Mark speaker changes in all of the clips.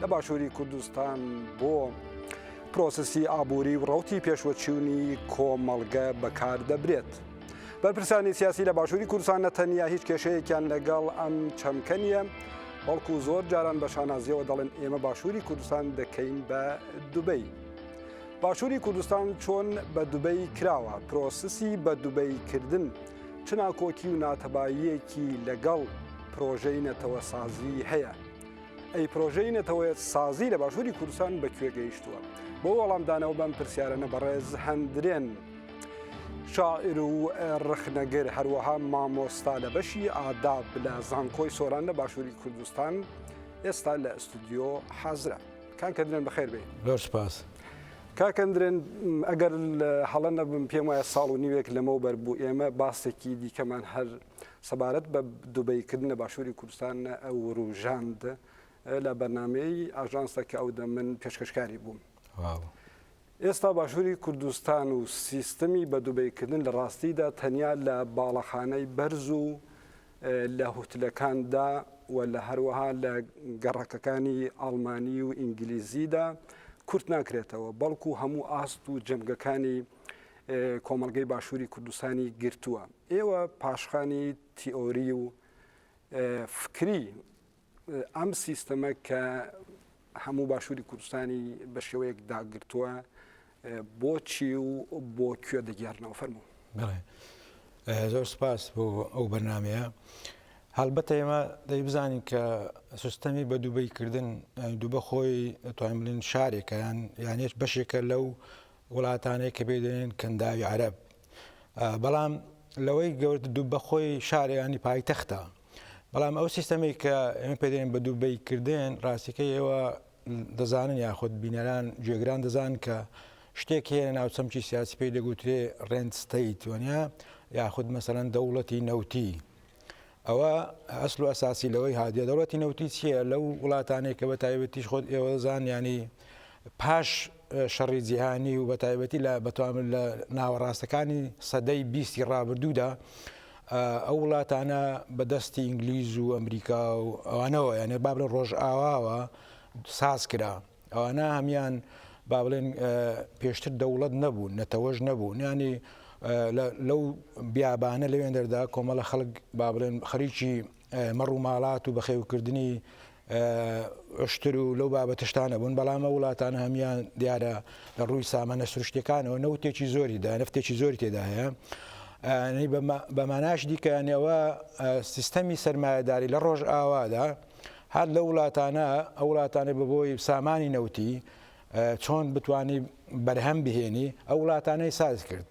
Speaker 1: لە باشووری کوردستان بۆ پرۆسسی ئابووری و ڕوتی پێشوەچوونی کۆمەڵگە بەکاردەبرێت. بەرپرسانی سیاسی لە باشووری کوردستان نە تەنیا هیچ کێشەیەکیان لەگەڵ ئەم چەمکە نیە، بەڵکو زۆر جاران بە شانازیەوە دەڵێن ئێمە باشووری کوردستان دەکەین بە دوبەی. باشووری کوردستان چۆن بە دوبەی کراوە پرۆسسی بە دوبەی کردن چ ناکۆکی و ناتەباییەکی لەگەڵ پرۆژەی نەتەوە سازی هەیە. ئەی پرۆژەی نەتەوەیەت سازی لە باشووری کوردستان بە کوێ گەیشتووە بۆ وەڵامدانەوە بەم پرسیارەنە بەڕێز هەندرێن شاعر و ڕخنەگر هەروەها مامۆستا لە بەشی ئاداب لە زانکۆی سۆران لە باشووری کوردستان ئێستا لە ئەستودیۆ حازرە کاکە درێن بەخێر بێ زۆر سپاس
Speaker 2: کاکەندرێن
Speaker 1: ئەگەر هەڵە نەبم پێم وایە ساڵ و نیوێک لەمەو بەر بوو ئێمە باسێکی دیکەمان هەر سەبارەت بە دوبەی کردن لە باشووری کوردستان وروژاند لە بەرنمەی ئاژانسە کە ئەو دە من پێشکەشکاری بووم ئێستا باشووری کوردستان و سیستمی بە دوبەیکردن لە ڕاستیدا تەنیا لە باڵەخانەی بەرز و لە هوتلەکاندا و لە هەروەها لە گەڕەکەکانی ئاڵمانی و ئینگلیزیدا کورت ناکرێتەوە بەڵکو هەموو ئاست و جەمگەکانی کۆمەڵگەی باشووری کوردستانی گرتووە ئێوە پاشخانی تیۆری و فکری ئەم سیستەمە کە هەموو باشووری کوردستانی بە شێوەیەک داگرتووە بۆچی و بۆ کوێ دەگەرنەوە فەرمو
Speaker 2: زۆر سپاس بۆ ئەو بەرنمەیە هەڵبەتە ئێمە دەی بزانین کە سیستەمی بە دووبەی کردن دووبە خۆی توانین شارێکەیان یانێش بەشێکە لەو وڵاتانەی کە پێی دەلێن کەنداوی عەرەب بەڵام لەوەی گەورت دوو بەخۆی شارە ینی پایتەختە بەڵام ئەو سیستەمی کە ئێمە پێدەێن بە دووبەی کردێن ڕاستیکە ئێوە دەزانن یاخود بینەران جێگران دەزان کە شتێک هەیە ناو چەمکی سیاسی پێی دەگوترێ ڕێنستەیت وەنیا یاخود مەسەرەن دەوڵەتی نەوتی ئەوە ئەسڵ و ئەساسی لەوەی هات یە دەوڵەتی نەوتی چییە لەو وڵاتانەی کە بە تایبەتیش خۆت ئێوە دەزان ینی پاش شەڕی جیهانی و بە تایبەتی لە بەتوان لە ناوەڕاستەکانی سەدەی بیستی ڕابردوودا ئەو وڵاتانە بەدەستی ئینگلیز و ئەمریکا و ئەوانەوە یانێ بابلە ڕۆژئاواوە ساز کرا ئەوانە هەمیان با بڵێن پێشتر دەوڵەت نەبوون نەتەوەش نەبوون ینی لەو بیابانە لەوێن دەردا کۆمەڵە خەڵک با بڵێن خەریکی مەڕ و ماڵات و بەخێوکردنی عشتر و لەو بابەتشتانە بوون بەڵامە وڵاتان هەمان دیارە لە ڕووی سامانە سروشتەکانەوە نەوتێکی زۆری دا نفتێکی زۆری تێدا هەیە بەماناش دیکەیانەوە سیستەمی سەرمایهداری لە ڕۆژ ئاوادا هەر لەو وڵاتانە ئەو وڵاتانەی بەبۆی سامانی نەوتی چۆن بتانی بەرهەم بهێنی ئەو وڵاتانەی ساز کرد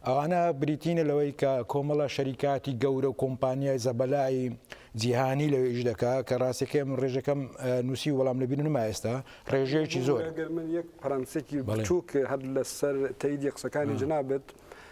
Speaker 2: ئەوانە بریتینە لەوەی کە کۆمەڵە شەریکاتی گەورە و کۆمپانیای زەبەلایی جیهانی لەوێش دەکا کە ڕاستەکەم ڕێژەکەم نووسی وەڵام لەبی نما ئێستا ڕێژەیەکی زۆر من یەک پرەنسێکی
Speaker 1: بچووک هەر لەسەر تەیدی قسەکانی جنابێت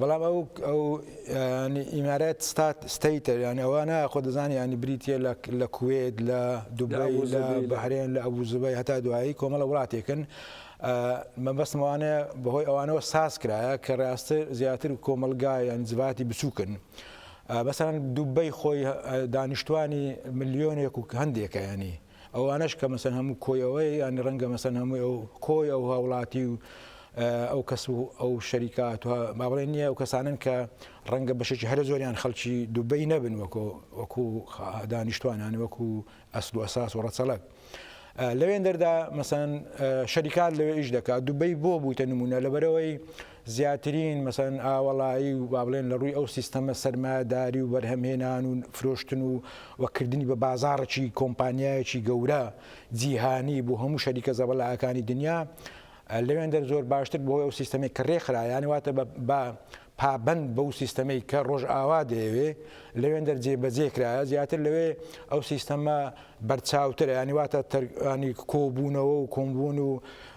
Speaker 2: بەڵام ئەو ئەو ئیمارات ستات ستەیتە یانی ئەوە نایە خۆ دەزانانی ینی بریتە لە کوێت لە دوبای لە بەهرێن لە ئەبوزبای هەتا دوایی کۆمەڵە وڵاتێکن مەبەستمەوانەیە بەهۆی ئەوانەوە ساز کرایە کە ڕاستە زیاتر کۆمەلگایان جڤاتی بچووکن. بەسەران دوبەی خۆی دانیشتوانی ملیۆنێک و هەندێکە ینی ئەوانەش کە مەسەن هەموو کۆی ئەوەیە یانی ڕەنگە مەسەن هەمووی ئەو کۆی ئەو هاوڵاتی و ئەو کەس و ئەو شەریکات با بڵێ نییە ئەو کەسانن کە ڕەنگە بەشێکی هەرە زۆریان خەڵکی دوبەی نەبن وەکۆ وەکو دانیشتوانان وەکو ئەسل و ئەساس و ڕەچەڵک. لەوێن دەردا مەسەن شەریکان لەوێ ئیش دەکات دوبەی بۆ بوویتە نمونە لەبەرەوەی زیاترین مەسەلەن ئاوەڵایی و بابڵێن لە ڕووی ئەو سیستەمە سەرمایەداری و بەرهەمهێنان و فرۆشتن و و کردنی بە بازاڕێکی کۆمپانیایەکی گەورە جیهانی بۆ هەموو شەریکە زەبەلاحەکانی دنیا لەوێندەر زۆر باشتر بۆ ئەو سیستەمەی کە ڕێکخرا یانە واتە بە پابەند بەو سیستەمەی کە ڕۆژئاوا دەیەوێ لەوێندەر جێبەجێ کرایە زیاتر لەوێ ئەو سیستەمە بەرچاوترە یانی واتە تەرگانی کۆبوونەوە و کۆمبوون و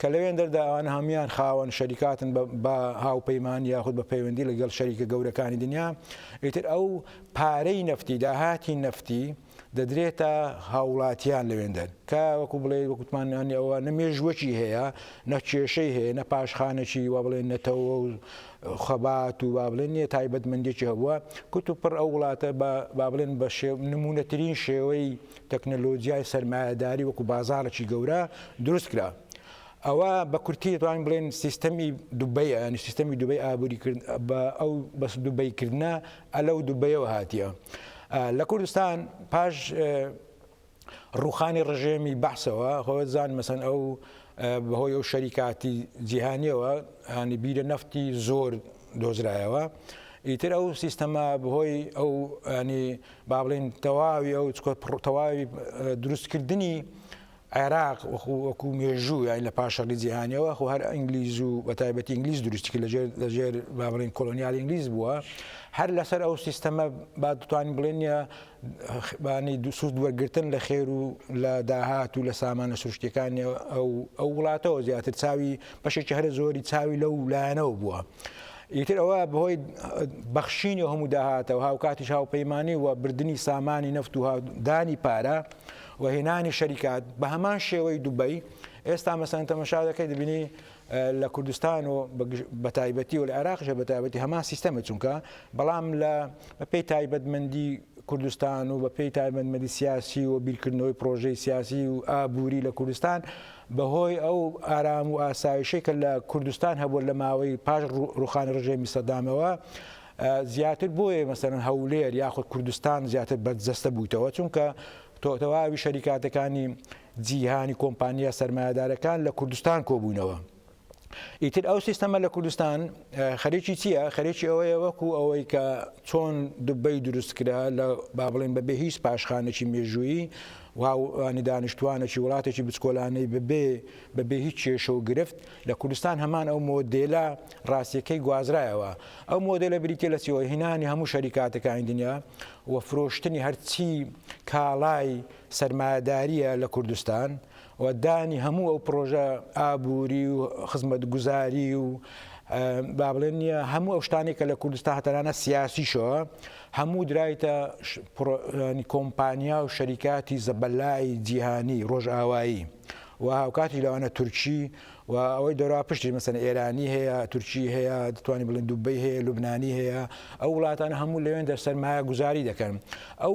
Speaker 2: کە لەوێندەردا ئەوان هەموویان خاوەن شەریکاتن بە هاوپەیمانی یاخود بە پەیوەندی لەگەڵ شەریکە گەورەکانی دنیا، ئیتر ئەو پارەی نەفتی، داهاتی نەفتی دەدرێتە هاووڵاتیان لەوێندەر، کە وەکو بڵێی وەکو وتمان ئەوە نە مێژووەکی هەیە، نە کێشەی هەیە، نە پاشخانێکی وا بڵێن نەتەوە و خەبات و با بڵێن یە تایبەتمەندێکی هەبووە، کوت و پڕ ئەو وڵاتە بە با بڵێن بە نموونەترین شێوەی تەکنەلۆجیای سەرمایەداری وەکو بازاڕێکی گەورە دروست کرا. ئەوە بە کورتی دەتوانین بڵێین سیستەمی دوبەیە، یانی سیستەمی دوبەی ئابووری کرد بە ئەو بەس دوبەی کردنە ئە لەو دوبەیەوە هاتیە. لە کوردستان پاش ڕوخانی ڕژێمی بەعسەوە خۆزان مەسەن ئەو بەهۆی ئەو شەریکاتی جیهانیەوە هانی بیرە نەفتی زۆر دۆزرایەوە ئیتر ئەو سیستەما بەهۆی ئەو ینی با بڵێین تەواوی ئەو چکۆ پڕ تەواوی دروست کردنی عێراق وەخو وەکو مێژوو یاین لە پاش شەڕی جیهانیەوە خۆ هەر ئەنگلیز و بە تایبەتی ئینگلیز دروستی کرد لەژێر لەژێر با بڵێین کۆلۆنیال ئینگلیز بووە هەر لەسەر ئەو سیستەمە با دتوانین بڵێن بانی دو سوود وەرگتن لە خێر و لە داهات و لە سامانە سروشتەکانی ئەو ئەو وڵاتەوە زیاتر چاوی بەشێکی هەرە زۆری چاوی لەو لایەنەوە بووە. ئیتر ئەوە بەهۆی بەخشینی هەموو داهاتە و هاوکاتیش هاوپەیمانی و بردننی سامانی نەفت و دانی پارە و هێنانی شەریکات بە هەمان شێوەی دوبەی ئێستا مەسەن تەمەشا دەکەی دەبینی لە کوردستان و بەتایبەتی و لە عێراقشە بەتابەتی هەمان سیستەمە چونکە بەڵام لە پێی تایبەتمەندی کوردستان و بە پێی تایبەتمەدی سیاسی و بیرکردنەوەی پرۆژەی سیاسی و ئابووری لە کوردستان بەهۆی ئەو ئارام و ئاسایشەی کە لە کوردستان هەبووە لە ماوەی پاش ڕووخانی ڕژێمی سەدامەوە زیاتر بۆیە مەسەرەن هەولێر یاخود کوردستان زیاتر بەرجەستە بوویتەوە چونکە تۆتەواوی شەریکاتەکانی جیهانی کۆمپانیا سەرمایەدارەکان لە کوردستان کۆبوونەوە. ئیتر ئەو سیستەمە لە کوردستان خەرێکی چییە خەرێکی ئەوەیە وەکو ئەوەی کە چۆن دوبەی دروست کرا لە با بڵێن بەبێ هیچ پاشخانێکی مێژوویی وانی دانیشتوانێکی وڵاتێکی بچکۆلانەی ببێ بەبێ هیچ کێشە و گرفت لە کوردستان هەمان ئەو مۆدێلە ڕاستیەکەی گوازرایەوە ئەو مۆدێلە بریتە لە سیەوە هینانی هەموو شەریکاتەکانی دنیا و فرۆشتنی هەرچی کاڵای سەرمایهداریە لە کوردستان و و دانی هەموو ئەو پڕۆژە ئابووری و خزمەتگوزاری و با بڵێن هەموو ئەو شتانی کە لە کوردستان هە تەنانە سیاسیشەوە هەموو درایتە کۆمپانیا و شەریکاتی زەبەلای جیهانی ڕۆژئاوایی و هاوکاتی لەوانە تورکی و ئەوەی دەرا پشتی مەسەن ئێرانی هەیە تورکی هەیە دەتوانانی بڵێن دوبی هەیە لوبنانی هەیە ئەو وڵاتانە هەموو لەوێن دەر سەرمایە گوزاری دەکەن ئەو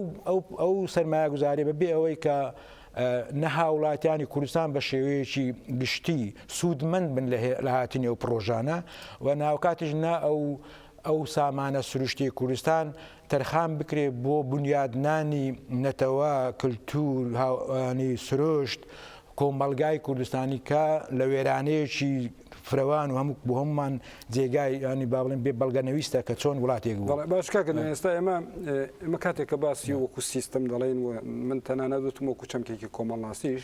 Speaker 2: ئەو سەرمایە گوزاری بەبێ ئەوەی کە نە هاوڵاتیانی کوردستان بە شێوەیەکی گشتی سوودمەند بن لە هاتنی ئەو پڕۆژانە و ناوکاتیش نە ئەو ئەو سامانە سروشتی کوردستان تەرخان بکرێ بۆ بنیادنانی نەتەوە کللتور هاوانی سروشت کۆمەلگای کوردستانی کە لە وێرانەیەکی فرەوان و هەموو بۆ هەموومان جێگای ینی با بڵێن بێ بەڵگە نەویستە کە چۆن وڵاتێک بوو. بەڵێ باش کاکە نەوێن ئێستا ئێمە
Speaker 1: ئێمە کاتێک کە باسی وەکو سیستم دەڵێین و من تەنانەت وتم وەکو چەمکێکی کۆمەڵناسیش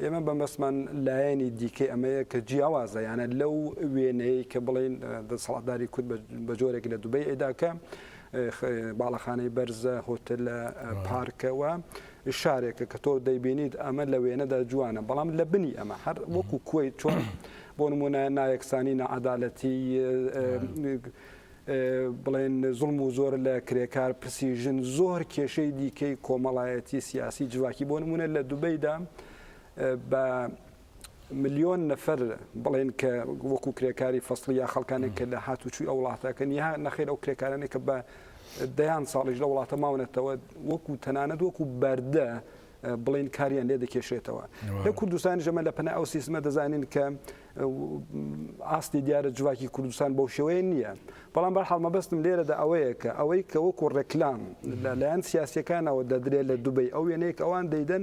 Speaker 1: ئێمە بە مەسمان لایەنی دیکەی ئەمەیە کە جیاوازە یانە لەو وێنەیە کە بڵێن دەسەڵاتداری کورد بە جۆرێک لە دوبەی ئەیداکە باڵەخانەی بەرزە هۆتلە پارکەوە شارێکە کە تۆ دەیبینیت ئەمە لە وێنەدا جوانە بەڵام لە بنی ئەمە هەر وەکو کوی چۆن بۆ نمونە نایەکسانی نەعادالەتی بڵێن زڵم و زۆر لە کرێکار پرسی ژن زۆر کێشەی دیکەی کۆمەڵایەتی سیاسی جوواکی بۆ نمونە لە دوبەیدا بە ملیۆن نەفەر بڵێن کە وەکو کرێکاری فەصلی یا خەڵکانێک کە لە هاتوچوی ئەو وڵاتەکەن یا نەخیر ئەو کرێکارانێک کە بە دەیان ساڵیش لە وڵاتە ماونەتەوە وەکو تەنانەت وەکو بەردە بڵین کاریان لێ دەکێشێتەوە لە کوردستان ژەمە لە پنە ئەو سیستمە دەزانین کە ئاستی دیارە جوواکی کوردستان بەو شێوەیە نییە بەڵام بە حاڵمە بەستم لێرەدا ئەوەیە کە ئەوەی کە وەکو ڕێکلام لەلایەن سیاسەکانەوە دەدرێت لە دوبی ئەو وێنەیەک ئەوان دەیدەن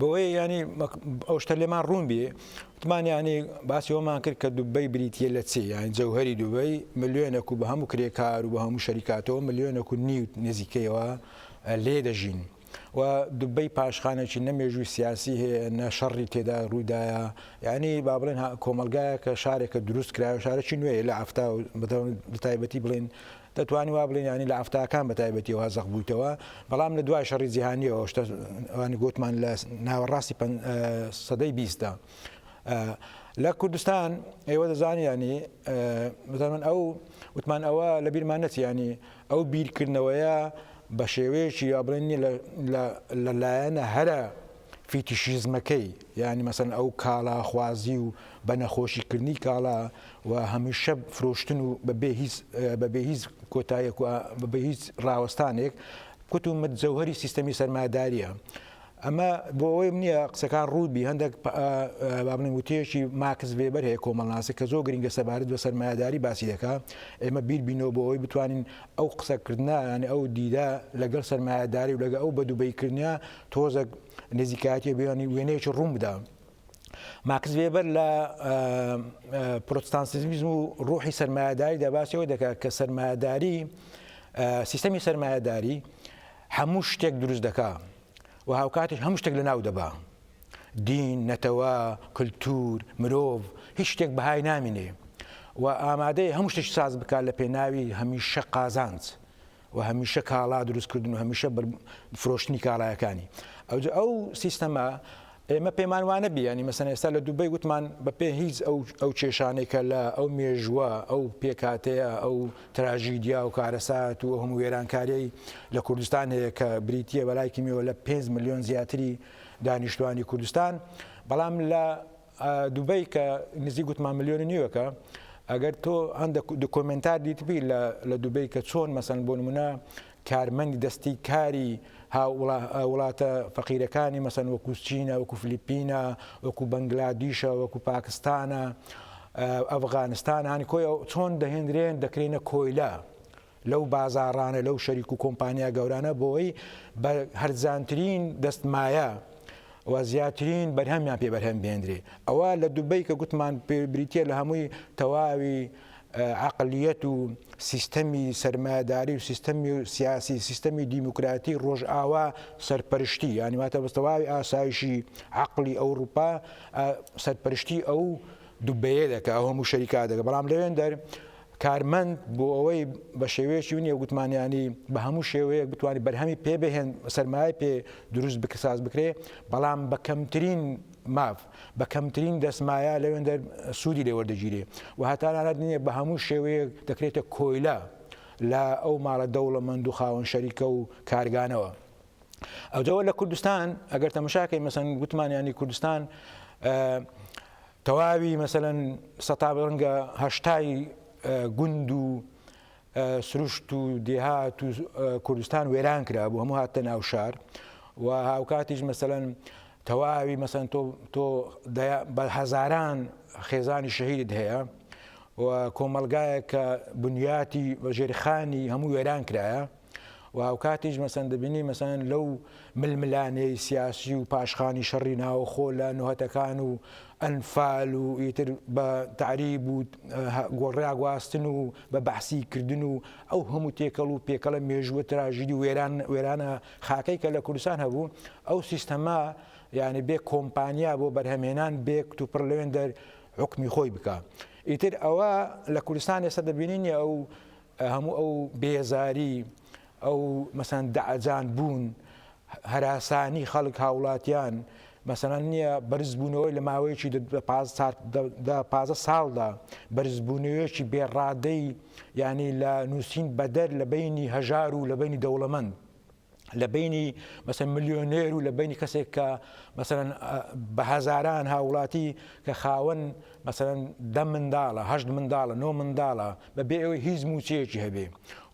Speaker 2: بۆیە ینی ئەو شتە لێمان ڕوون بێ وتمانیانی باسی ئەومان کرد کە دوبەی بریتە لە چێ یان جەوهری دوبەی ملیۆنە و بە هەموو کرێکار و بە هەموو شەریکاتەوە ملیۆنە و نیو نزیکەیەوە لێ دەژین. و دوبەی پاشخانێکی نەمێژوی سیاسی هەیە نە شەڕی تێدا ڕوودایە ینی با بڵێن کۆمەلگایە کە شارێکە دروست کرا شارێکی نوێ لە ئەفتا بەدەم تایبەتی بڵێن دەتوانین وا بڵێین یانی لە حەفتاکان بە تایبەتیەوە زەق بوویتەوە بەڵام لە دوای شەڕی جیهانیەوە شتە ئەوانی گوتمان لە ناوەڕاستی سەدەی بیستدا لە کوردستان ئێوە دەزانیانی بزانمن ئەو وتمان ئەوە لە بیرمان نەچیانی ئەو بیرکردنەوەیە بە شێوەیەکی یا بڵێن لە لایەنە هەرە فیتیشیزمەکەی یانی مەسەلەن ئەو کاڵا خوازی و بە نەخۆشی کردنی کاڵا و هەمیشە فرۆشتن و بە بێ هیچ بە بێ هیچ کۆتایەک و بە بێ هیچ ڕاوەستانێک کوت و مت جەوهەری سیستەمی سەرمایەدارییە ئەمە بۆ ئەوەیم نییە قسەکان ڕووبی هەندێک بابنی وتەیەکی ماکس وێبەر هەیە کۆمەڵناسی کە زۆر گرنگە سەبارەت بە سەرمایەداری باسی دەکە ئێمە بیر بینەوە بۆ ئەوی بتوانین ئەو قسەکردە یعنی ئەو دیدە لەگەڵ سەرمایەداری و لەگە ئەو بەدوبەیکردە تۆزەک نزیکایەتی بێوانی وێنەیەکی ڕوون بدا ماکس وێبەر لە پرۆتستانسیزم و ڕوحی سەرمایهداری دەباسیەوە دەکات کە سەرمایهداری سیستەمی سەرمایهداری هەموو شتێک دروست دەکا و هاوکاتیش هەموو شتێک لە ناو دەبا دین نەتەوە کللتور مرۆڤ هیچ شتێک بەهای نامینێ و ئامادەی هەموو شتێک ساز بکات لە پێناوی هەمیشە قازانج و هەمیشە کاڵا دروست کردن و هەمیشە فرۆشتنی کاڵایەکانی ئەوجا ئەو سیستەمە ئێمە پێمان وانە بیانی مەسەن ئێستا لە دوبەی وتمان بە پێ هیچ ئەو ئەو کێشانەی کە لە ئەو مێژوە ئەو پێکاتەیە ئەو تراژیدیا و کارەسات و هەموو وێرانکاریی لە کوردستان هەیە کە بریتە بەلایکیمیەوە لە 5 میلیۆن زیاتری دانیشتوانی کوردستان بەڵام لە دوبەی کە نزیک گوتمان ملیۆن و نیوەکە ئەگەر تۆ هەندە دکۆمنتار دیتبی لە دوبەی کە چۆن مەسەن بۆ نمونە کارمەندی دەستی کاری وڵاتە فەقیرەکانی مەسەن وەکو چینە وەکو فلیپینە وەکو بەنگلادیشە وەکو پاکستانە ئەفغانستان هەنکۆی چۆن دەهێنرێن دەکرێنە کۆیلە لەو بازاڕانە، لەو شەریک و کۆمپانیا گەورانە بۆی بە هەرزانترین دەست مایە و زیاترین بەرهەمیان پێ بەرهەم بێنرێ. ئەوە لە دوبەی کە گوتمان پێ بریتیە لە هەمووی تەواوی عەقلیەت و سیستەمی سەرمایەداری و سیستەمی سیاسی سیستەمی دیموکراتی ڕۆژئاوا سەرپەرشتی یانی واتە بە تەواوی ئاسایشی عەقلی ئەوڕوپا سەرپەرشتی ئەو دوبەیە دەکا ئەو هەموو شەریکا دەکە بەڵام لەوێن دەر کارمەند بۆ ئەوەی بە شێوەیەکی ونیە گوتمانیانی بە هەموو شێوەیەک بتوانانی بەرهەمی پێ بهێن سەرمایە پێ دروست بکە ساز بکرێ بەڵام بە کەمترین ماف بە کەمترین دەستمایە لەوێندەر سوودی لێوەردەگیرێ و هەتانانات نییە بە هەموو شێوەیەک دەکرێتە کۆیلە لە ئەو ماڵە دەوڵەمەند و خاوەن شەریکە و کارگانەوە. ئەوجەوە لە کوردستان ئەگەر تەمەشاکەی مەسەن گوتمانیانی کوردستان تەواوی مەسەلەن سەتا ڕەنگە هەشتای گوند و سروشت و دێهات و کوردستان وێران کرا بوو هەموو هاتە ناو شار و هاوکاتیش مەسەن تەواوی مەسەن تۆ تۆ بە هەزاران خێزانی شەهید هەیە و کۆمەلگایە کە بنیاتی بە ژێرخانی هەموو وێران کرایە و هاوکاتیش مەسەن دەبینی مەسەن لەو ململانێی سیاسی و پاشخانی شەڕی ناوخۆ لە نوهتەکان و ئەنفال و ئیتر بە تعریب و گۆڕیا گواستن و بە بەحسی کردن و ئەو هەموو تێکەڵ و پێکەڵە مێژووە تراژیدی وێران وێرانە خاکەی کە لە کوردستان هەبوو ئەو سیستەما یعنی بێ کۆمپانیا بۆ بەرهەمێنان بێ کتوپڕ لەوێن دەر حکمی خۆی بکە ئیتر ئەوە لە کوردستان ئێستا دەبینین ئەو هەموو ئەو بێزاری، ئەو مەسەن دەعەجان بوون، هەراسانی خەڵک هاوڵاتیان مەسەن نیە، بەرز بوونەوەی لە ماوەیەکی دە پازدە ساڵدا، بەرز بوونەوەیەکی بێ ڕادەی یانی لە نووسین بەدەر لە بەینی هەژار و لە بەینی دەوڵەمەند. لە بەینی مەسەن ملیۆنێر و لە بینی کەسێک کە مەسەن بە هەزاران هاوڵاتی کە خاوەن مەسەن دە منداڵە هەشت منداڵە نۆ منداڵە بە بێ ئەوەی هیچ موچەیەکی هەبێ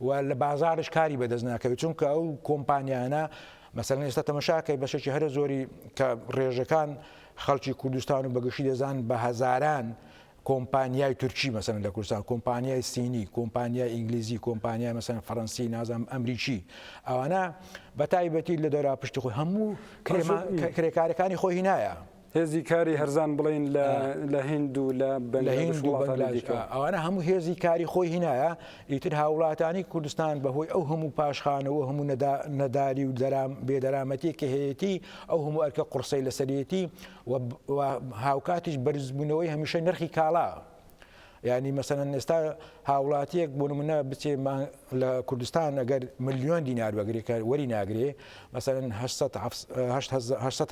Speaker 2: و لە بازارش کاری بەدەست ناکەوێت چونکە ئەو کۆمپانیانە مەسەن ئێستا تەمەشاکەی بەشێکی هەرە زۆری کە ڕێژەکان خەڵکی کوردستان و بەگشتی دەزان بە هەزاران کۆمپانیای تورکی مەسەلەن لە کوردستان کۆمپانیای سینی کۆمپانیای ئینگلیزی کۆمپانیای مەسەلەن فەرەنسی نازانم ئەمریکی ئەوانە بە تایبەتی لە دەرا پشتی خۆی هەموو کرێکارەکانی خۆی هینایە هێزی کاری
Speaker 1: هەرزان بڵین لە هند و لە
Speaker 2: ئەوانە هەموو هێزی کاری خۆی هینایە ئیتر هاوڵاتانی کوردستان بەهۆی ئەو هەموو پاشخانەوە هەموو نەداری و بێدەرامەتی کە هەیەی ئەو هەموو ئەرکە قڕسەی لەسەرەتی و هاوکاتیش بەرزبوونەوەی هەمیشەی نرخی کاڵا ینی مەسەن ئێستا هاوڵاتیەک بۆ منە بچێ لە کوردستان ئەگەر ملیۆن دینار بەگرێکە وەری ناگرێ مەسەن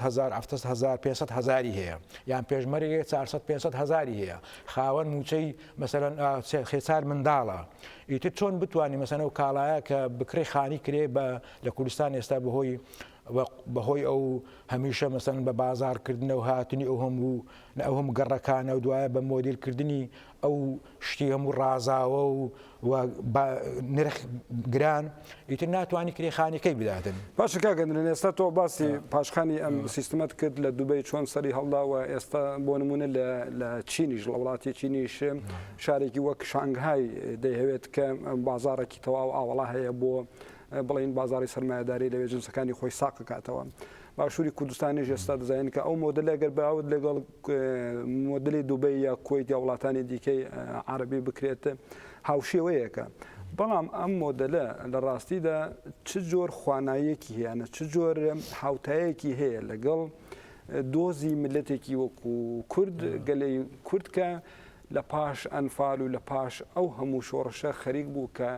Speaker 2: هزار هزار 500 هزاری هەیە یان پێشمەرگێ 400 500 هزاری هەیە خاوەن موچەی مەسەن خێچار منداڵە ئیتر چۆن بتانی مەسەنە و کاڵایە کە بکرێ خانی کرێ بە لە کوردستان ئێستا بەهۆی وە بەهۆی ئەو هەمیشە مەسەلەن بە بازاڕ کردنەو هاتنی ئەو هەموو نە ئەو هەموو گەڕەکانەو دوایە بە مۆدیل کردنی ئەو شتی هەموو ڕازاوەو وە با نرخ گران ئیتر ناتوانی کرێ خانی کەی بداتن. باشە کاک ئەدرێن ئێستا
Speaker 1: تۆ باسی پاشخانی ئەم سیستمەت کرد لە دوبەی چۆن سەری هەڵدا وە ئێستا بۆ نمونە لە لە چینیش لە وڵاتی چینیش شارێکی وەک شانگهای دەیهەوێت کە بازاڕێکی تەواو ئاوەڵا هەیە بۆ بڵێین بازاڕی سەرمایەداری لەوێ جنسەکانی خۆی ساقکاتەوە باشووری کوردستانیش ئێستا دەزانین کە ئەو مۆدلە گەر باوت لەگەڵ مۆدلی دوبەی یا کۆیت یا وڵاتانی دیکەی عربی بکرێت هاوشێوەیەکە بەڵام ئەم مۆدلە لە ڕاستیدا چ جۆر خوانایەکی هەیەە چ جۆر هاوتایەکی هەیە لەگەڵ دۆزی ملەتێکی وەکو کورد گەلی کوردکە لە پاش ئەنفال و لە پاش ئەو هەموو شۆڕشە خەریک بوو کە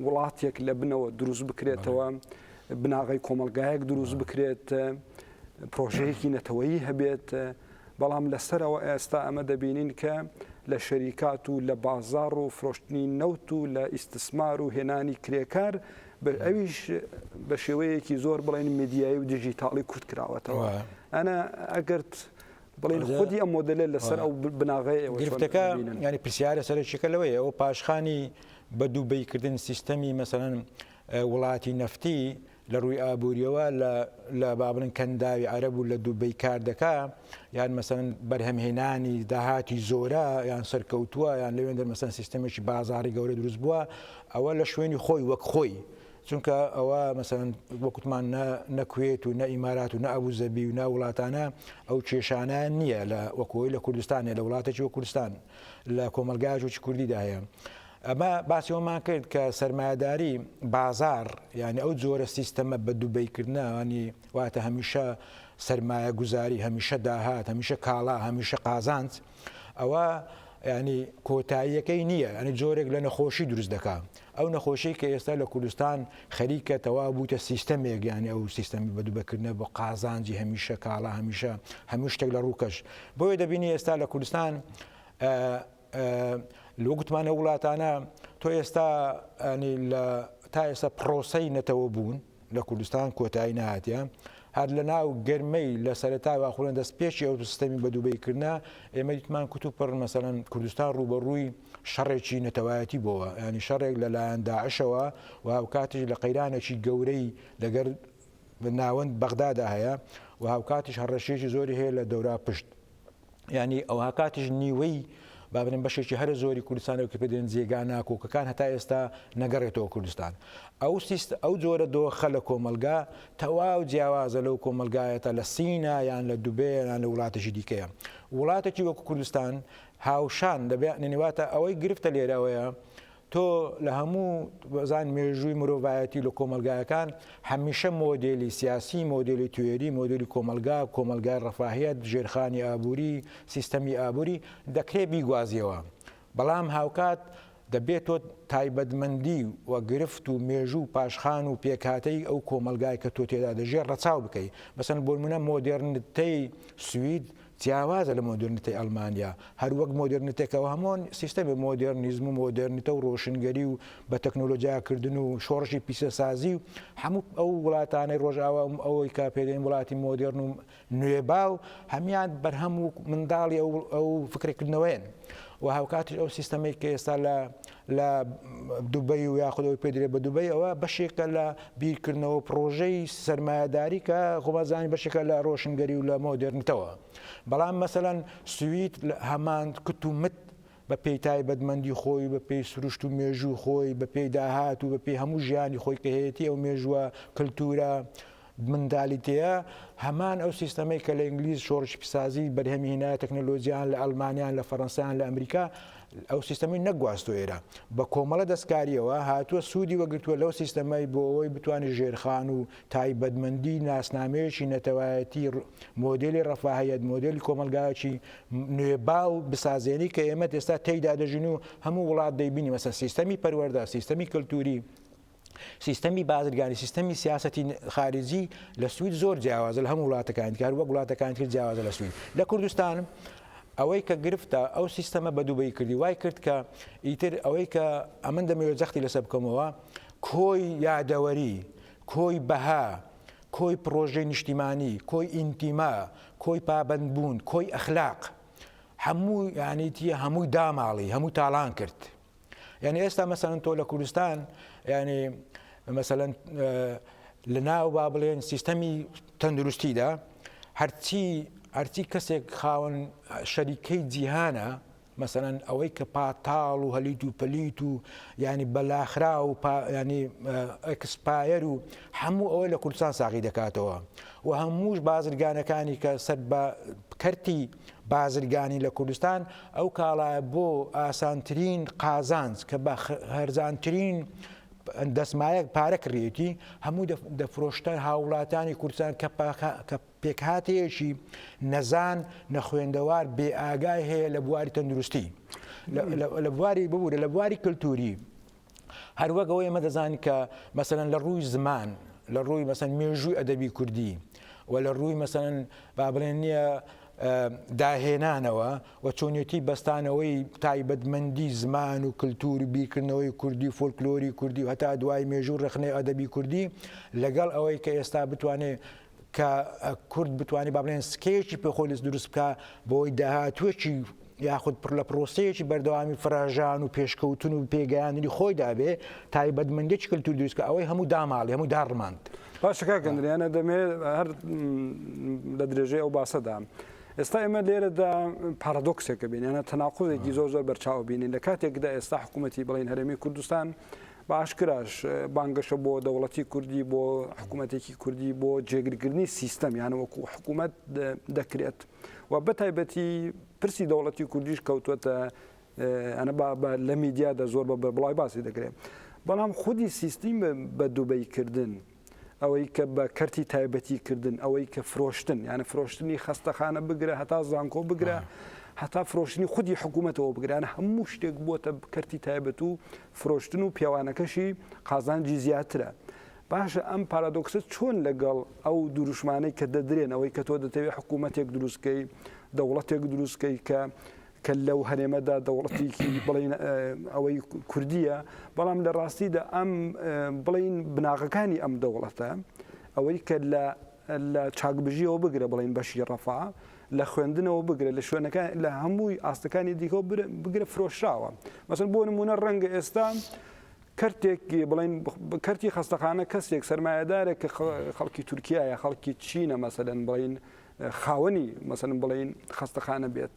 Speaker 1: وڵاتێک لە بنەوە دروست بکرێتەوە بناغی کۆمەلگایەک دروست بکرێت پرۆژەیەکی نەتەوەیی هەبێت بەڵام لەسەرەوە ئێستا ئەمە دەبینین کە لە شەریکات و لە بازار و فرۆشتنی نەوت و لە ئیسسمار و هێنانی کرێکار ئەویش بە شێوەیەکی زۆر بڵێن میدیایی و دیجیتاڵی کورت کراوەتەوە ئەنا ئەگەرت بڵێن خودی ئەم مۆدلە لەسەر ئەو بناغەیە گرفتەکە ینی
Speaker 2: پرسیارە سەرچەکە لەوەیە ئەو پاشخانی بە دوبەی کردن سیستەمی مەسەلەن وڵاتی نەفتی لە ڕووی ئابووریەوە لە با بڵێن کەنداوی عەرەب و لە دوبەی کار دەکا یان مەسەن بەرهەمهێنانی داهاتی زۆرە یان سەرکەوتووە یان لەوێن دەرمەسەن سیستەمێکی بازاری گەورە دروست بووە ئەوە لە شوێنی خۆی وەک خۆی چونکە ئەوە مەسەن وەکوتمان نەکوێت و نە ئیمارات و نە ئەبوو زەبی و نە وڵاتانە ئەو کێشانە نییە لە وەکۆی لە کوردستانێ لە وڵاتێکی و کوردستان. لە کۆمەڵگای ئاشووری کوردیدا هەیە. ئەمە باسی ئەوەمان کرد کە سەرمایەداری بازاڕ یانی ئەو جۆرە سیستەمە بە دوبەی کردنە ینی واتە هەمیشە سەرمایە گوزاری هەمیشە داهات هەمیشە کاڵا هەمیشە قازانج ئەوە ینی کۆتاییەکەی نییە ئەنی جۆرێک لە نەخۆشی دروست دەکا ئەو نەخۆشیەی کە ئێستا لە کوردستان خەریکە تەواو بوویتە سیستەمێک یانی ئەو سیستەمی بە دوبەکردنە بۆ قازانجی هەمیشە کاڵا هەمیشە هەموو شتێک لە ڕووکەش بۆیە دەبینی ئێستا لە کوردستان لۆ گوتمانە وڵاتانە تۆ ئێستا لە تا ئێستا پرۆسەی نەتەوە بوون لە کوردستان کۆتایی نهاتە هەر لە ناو گەرمەی لە سەرتاوا خۆن دەست پێشی ئەو سیستەمی بە دووبەیکردە ئێمە دیتمان کوتوپڕ مەسەەن کوردستان ڕوبەڕووی شەڕێکی نەتەوایەتی بۆوە یانی شەڕێک لە لایەن داعشەوە و هاوکاتیش لە قەیرانێکی گەورەی لەگەر ناوەند بەغدادا هەیە و هاوکاتیش هەڕەشیەکی زۆری هەیە لە دەورا پشت ینی ئەو هاکاتیش نیوەی بابرن بەشێکی هەرە زۆری کوردستانەوە کە پێدێن جێگا ناکۆکەکان هەتا ئێستا نەگەڕێتەوە کوردستان ئەو سیست ئەو جۆرە دۆخە لە کۆمەلگا تەواو جیاوازە لەو کۆمەلگایەتە لە سینا یان لە دوبێیان لە وڵاتەشی دیکەیە وڵاتێکی وەکو کوردستان هاوشان دەبێ عنی واتە ئەوەی گرفتە لێرە ئەوەیە تۆ لە هەموو بەزان مێژووی مرۆڤایەتی لە کۆمەلگایەکان هەمیشە مۆدێلی سیاسی مۆدێلی توێری مۆدێلی کۆمەلگا کۆمەلگای ڕەفاهیەت ژێرخانی ئابووری سیستەمی ئابووری دەکرێ بیگوازیەوە بەڵام هاوکات دەبێ تۆ تایبەتمەندی و گرفت و مێژوو و پاشخان و پێکهاتەی ئەو کۆمەڵگای کە تۆ تێدا دەژێ ڕەچاو بکەی. مەسەلەن بۆ نموونە مۆدێرنتەی سوید جیاوازە لە مۆدێرنتەی ئەڵمانیا. هەر وەک مۆدێرنتەی کە هەموان سیستەمی مۆدێرنیزم و مۆدێرنتە و ڕۆشنگەری و بە تەکنۆلۆجیا کردن و شۆڕشی پیسەسازی و هەموو ئەو وڵاتانەی ڕۆژاوا و ئەوەی کە پێ دەین وڵاتی مۆدێرن و نوێباو هەمیان بەرهەم و منداڵی ئەو فکرەکردنەوەیەن و هاوکاتیش ئەو سیستەمەی کە ئێستا لە لە دوبەی و یاخودەوەی پێدرێ بە دوبەی ئەوە بەشێکە لە بیرکردنەوە پرۆژەی سرمایهداری کە خۆبازانانی بەشێکە لە ڕۆشنگەری و لە مۆدررنتەوە بەڵام مەسەەن سویت هەمان کتومت بە پێی تایبەتمەندی خۆی و بە پێی سروشت و مێژووی خۆی، بە پێی داهات و بە پێی هەموو ژیانی خۆی کە هەیەتی ئەو مێژووە، کلتوورە، منتالیتەیە، هەمان ئەو سیستەمەی کە لە ئینگلیز شۆڕشی پیسازی بەرهەمی هێنایە تەکنەلۆجیایان لە ئەڵمانیا یان لە فەرەنسا یان لە ئەمریکا ئەو سیستەمەی نەگواستوە ئێرە بە کۆمەڵە دەستکاریەوە هاتووە سوودی وەگرتووە لەو سیستەمەی بۆ ئەوەی بتوانێت ژێرخان و تایبەتمەندی ناسنامەیەکی نەتەوایەتی مۆدێلی ڕەفاهیەت مۆدێلی کۆمەڵگایەکی نوێباو بسازێنی کە ئێمە ئێستا تێیدا دەژین و هەموو وڵات دەیبینی مەسە سیستەمی پەروەەردە سیستەمی کللتوری سیستەمی بازرگانی سیستەمی سیاستی خارجی لە سوید زۆر جیاوازە لە هەموو وڵاتەکان کار وە وڵاتەکان تر جیاوازە لە سوید لە کوردستان ئەوەی کە گرفتە ئەو سیستەمە بە دووبەی کردی وای کرد کە ئیتر ئەوەی کە ئەمن دەمەوێت جەختی لەسە بکەمەوە کۆی یادەوەری کۆی بەها کۆی پرۆژەی نیشتیمانی کۆی ئینتیما کۆی پابەند بوون، کۆی ئەخلاق هەموو یانی چیە هەمووی داماڵی هەموو تاڵان کرد یعنی ئێستا مەسەن تۆ لە کوردستان یعنی مەسەن لە ناو با بڵێن سیستەمی تەندروستیدا هەرچی هەرچی کەسێک خاوەن شەریکەی جیهانە مەسەلەن ئەوەی کە پاتاڵ و هەلیت و پەلیت و یانی بەلاخراو و یانی ئەکسپایەر و هەموو ئەوە لە کوردستان ساغی دەکاتەوە و هەمووش بازرگانەکانی کە سەر بە کەرتی بازرگانی لە کوردستان ئەو کاڵایە بۆ ئاسانترین قازانج کە بە هەرزانترین دەسمایەک پارە کڕیەتی هەموو دەفرۆشتە هاوڵاتانی کوردستان کە پێکهاتەیەکی نەزان نەخوێندەوار بێ ئاگای هەیە لە بواری تەندروستی لە بواری ببوورە لە بواری کللتوری هەروەک ئەوەی ئمە دەزانین کە مەسەن لە ڕووی زمان لە ڕووی مەسەن مێژووی ئەدەبی کوردی و لە ڕووی مەسەن با بڵێن نییە داهێنانەوە و چۆنیەتی بەستانەوەی تایبەتمەندی زمان و کللتور و بیرکردنەوەی کوردی و فۆلکلۆری کوردی و هەتا دوای مێژوو ڕخنەی ئەدەبی کوردی لەگەڵ ئەوەی کە ئێستا بتوانێت کە کورد بتوانێت با بڵێن سکەیەکی پێ خۆی دروست بکە بۆی داهاتوێکی یاخود پڕ لە پرۆسەیەکی بەردەوامی فراژان و پێشکەوتن و پێگەیاندنی خۆی دابێ تایبەتمەندێکی کللتور دوستکە ئەوەی هەموو داماڵی هەموو داڕماند باشەکە گەندریانە
Speaker 1: دەمێ هەر لە درێژەی ئەو باسەدا. ئێستا ئێمە لێرەدا پارادۆکسێکە بینێنە تەناقۆزێکی زۆر زۆر بەرچاو بینین لە کاتێکدا ئێستا حکوومەتتی بڵین هەرێمی کوردستان بە ئاشکراش بانگەشە بۆ دەوڵەتی کوردی، بۆ حکوومەتێکی کوردی، بۆ جێگرکردنی سیستەم یان وەکوو حکوومەت دەکرێت و بە تایبەتی پرسی دەوڵەتی کوردیش کەوتووەتە ئەە بە لە میدیادا زۆر بە بڵای باسی دەکرێت بەڵام خودی سیستیم بە دوبەیکردن ئەوەی کە بە کەرتی تایبەتی کردن ئەوەی کە فرۆشتن یانە فرۆشتنی خەستەخانە بگرە هەتا زانکۆ بگرە هەتا فرۆشتنی خودی حکوومەتەوە بگران هەموو شتێک بووە کەرتی تایبەت و فرۆشتن و پێوانەکەشی قازانجی زیاترە. باشە ئەم پارادۆکسە چۆن لەگەڵ ئەو دروشمانەی کە دەدرێن ئەوەی کە تۆ دەتەوێت حکوومەتێک دروستکەی دەوڵەتێک دروستکەی کە کە لەو هەرێمەدا دەوڵەتێکی بڵێن ئەوەی کوردیە، بەڵام لە ڕاستیدا ئەم بڵین بناغەکانی ئەم دەوڵەتە ئەوەی کە لە لە چاکبژیەوە بگرە بڵین بەشی ڕەفا لە خوێندنەوە بگرە لە شوێنەکە لە هەمووی ئاستەکانی دیکە بگرە فرۆشراوە مەسن بۆ نمونە ڕەنگە ئێستا کەرتێک بڵین کەرتی خستەخانە کەسێک سەرمایهدارێک کە خەڵکی تورکایە خەڵکی چینە مەسەدەن بڵین خاوەنی مەسەن بڵین خەستەخانە بێت.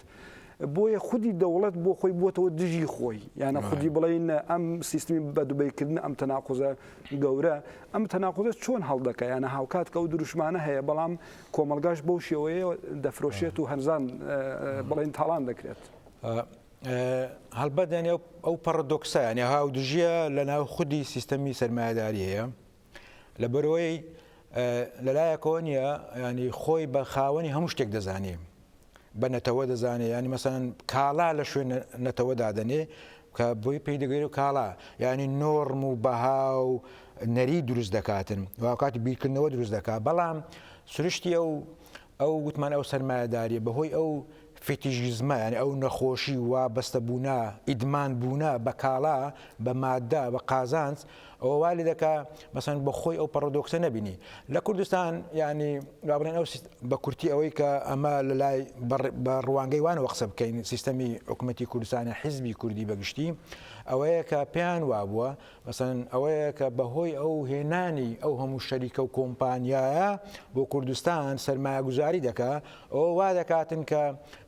Speaker 1: بۆیە خودی دەوڵەت بۆ خۆی بووەوە دژی خۆی یانە خودی بڵین ئەم سیستمی بە دوبیکردن ئەم تەناقۆزە گەورە ئەم تەناقۆزە چۆن هەڵدەکە یانە هاوکات کە ئەو دروشمانە هەیە بەڵام کۆمەلگاش بەو شێوەیە دەفرۆشێت و هەنزان بڵین تاڵان دەکرێت. هەڵبەت
Speaker 2: یانە ئەو پەڕدۆکسە یانە هاو دژیە لە ناو خودی سیستەمی سەرمایهداری هەیە لەبەرئەوەی لەلایەکەوە نیە ینی خۆی بە خاوەنی هەموو شتێک دەزانێ بە نەتەوە دەزانێ ینی مەسەن کاڵا لە شوێن نەتەوە دادەنێ کە بۆی پێی دەگەێت و کاڵا ینی نۆرم و بەها و نەری دروست دەکاتن واکاتی بیرکردنەوە دروست دەکات بەڵام سروشتی ئەو ئەو گوتمان ئەو سەرمایەداریە بەهۆی ئەو فیتیژیزمە یانی ئەو نەخۆشی و وابەستە بوونە ئیدمان بوونە بە کاڵا بە مادە بە قازانج ئەوە وا لێ دەکا مەسەن بە خۆی ئەو پەڕۆدۆکسە نەبینی لە کوردستان یانی با بڵێن ئەو بە کورتی ئەوەی کە ئەمە لە لای بە ڕوانگەی وانەوە قسە بکەین سیستەمی حکوومەتی کوردستانە حیزبی کوردی بەگشتی ئەوەیە کە پێیان وابووە مەسەلەن ئەوەیە کە بەهۆی ئەو هێنانی ئەو هەموو شەریکە و کۆمپانیایە بۆ کوردستان سەرمایەگوزاری دەکا ئەوە وا دەکاتن کە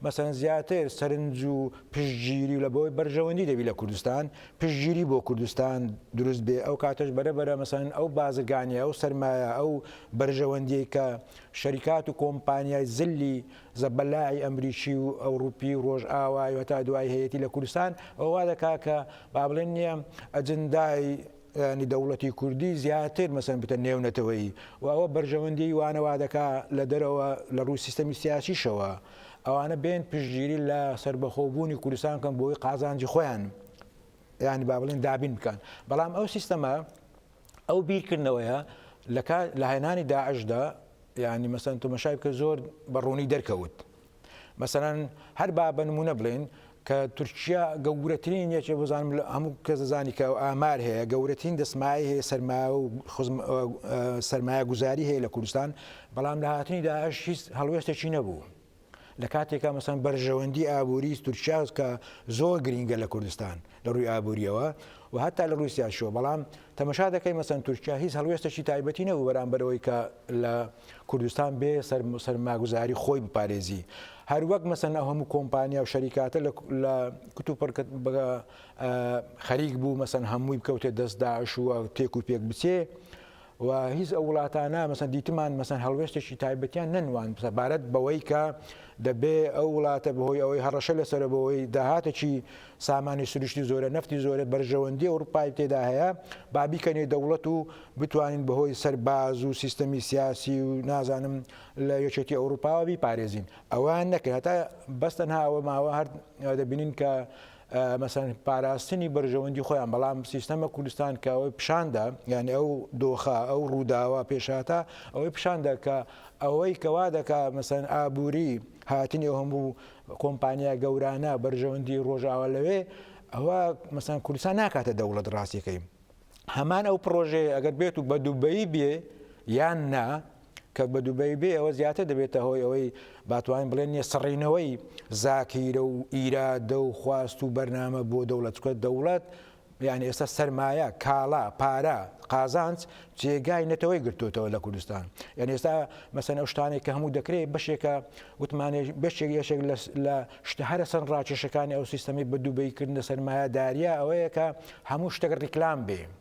Speaker 2: مەسەلەن زیاتر سەرنج و پشتگیری و لە بەوەی بەرژەوەندی دەبی لە کوردستان پشتگیری بۆ کوردستان دروست بێ ئەو کاتەش بەرە بەرە مەسەلەن ئەو بازرگانیە ئەو سەرمایە ئەو بەرژەوەندیەی کە شەریکات و کۆمپانیای زلی زەبەلاحی ئەمریکی و ئەوڕوپی و ڕۆژئاوای و هەتا دوایی هەیەتی لە کوردستان ئەوە وا دەکا کە با بڵێن نیە ئەجندای یانی دەوڵەتی کوردی زیاتر مەسەن بتە نێو نەتەوەیی و ئەوە بەرژەوەندی وانە وا دەکا لە دەرەوە لە ڕووی سیستەمی سیاسیشەوە ئەوانە بێن پشتگیری لە سەربەخۆ بوونی کوردستان کەن بۆی قازانجی خۆیان یانی با بڵێن دابین بکەن بەڵام ئەو سیستەمە ئەو بیرکردنەوەیە لە کات لە هێنانی داعشدا یعنی مەسەن تمەشای بکە زۆر بە ڕوونی دەرکەوت مەسەرەن هەر با بە نمونە بڵێن کە تورکیا گەورەترین یەکێ بزانم لە هەموو کەس دەزانی کە ئامار هەیە گەورەترین دەسمای هەیە سەرما و سەرمایە گوزاری هەیە لە کوردستان بەڵام لە هاتنی داعش هیچ هەڵوێستێکی نەبوو لە کاتێکا مەسەن بەرژەوەندی ئابووری تورکیا کە زۆر گرینگە لە کوردستان لە ڕووی ئابووریەوە و هەتا لە ڕووسیا شۆ بەڵام تەمەشا دەکەی مەسەن تورکیا هیچ هەڵوێستەشی تایبەتی نەبوو بەرامبەرەوەی کە لە کوردستان بێ سەر سەرماگوزاری خۆی بپارێزی هەر وەک مەسەن ئەو هەموو کۆمپانیا و شەریکاتە لە کت و پڕکت بگە خەریک بوو مەسەن هەمووی بکەوتێ دەست داعش و تێک و پێک بچێ و هیچ ئەو وڵاتانە مەسەن دیتمان مەسەن هەڵوێستێکی تایبەتیان نەنواند سەبارەت بەوەی کە دەبێ ئەو وڵاتە بەهۆی ئەوەی هەڕەشە لەسەر بەوەی داهاتێکی سامانی سروشتی زۆرە نەفتی زۆرە بەرژەوەندی ئەوروپای تێدا هەیە با بیکەنێ دەوڵەت و بتوانین بەهۆی سەرباز و سیستەمی سیاسی و نازانم لە یەکێتی ئەوروپاوە بیپارێزین ئەوان نەکرد هەتا بەستەنها ئەوە ماوە هەر دەبینین کە مەسەن پاراستنی بەرژەوەندی خۆیان بەڵام سیستەمە کوردستان کە ئەوەی پیشاندا یعنی ئەو دۆخە ئەو ڕووداوە پێشهاتە ئەوەی پیشاندا کە ئەوەی کەوا دەکا مەسەن ئابووری هاتنی ئەو هەموو کۆمپانیا گەورانە بەرژەوەندی ڕۆژاوە لەوێ ئەوە مەسەن کوردستان ناکاتە دەوڵەت ڕاستیەکەی هەمان ئەو پرۆژەیە ئەگەر بێت و بە دوبەی بێ یان نا کە بە دوبەی بێ ئەوە زیاتر دەبێتە هۆی ئەوەی باتوانین بڵێن نیە سڕینەوەی زاکیرە و ئیرادە و خواست و بەرنامە بۆ دەوڵەتکە دەوڵەت یعنی ئێستا سەرمایە کاڵا پارە قازانج جێگای نەتەوەی گرتوتەوە لە کوردستان یعنی ئێستا مەسەن ئەو شتانێک کە هەموو دەکرێت بەشێکە وتمانێ بەشێک یەشێک لە شتە هەرە سەر ڕاکێشەکانی ئەو سیستەمی بە دووبەیکردنە سەرمایە داریا ئەوەیە کە هەموو شتەکە ڕیکلام بێ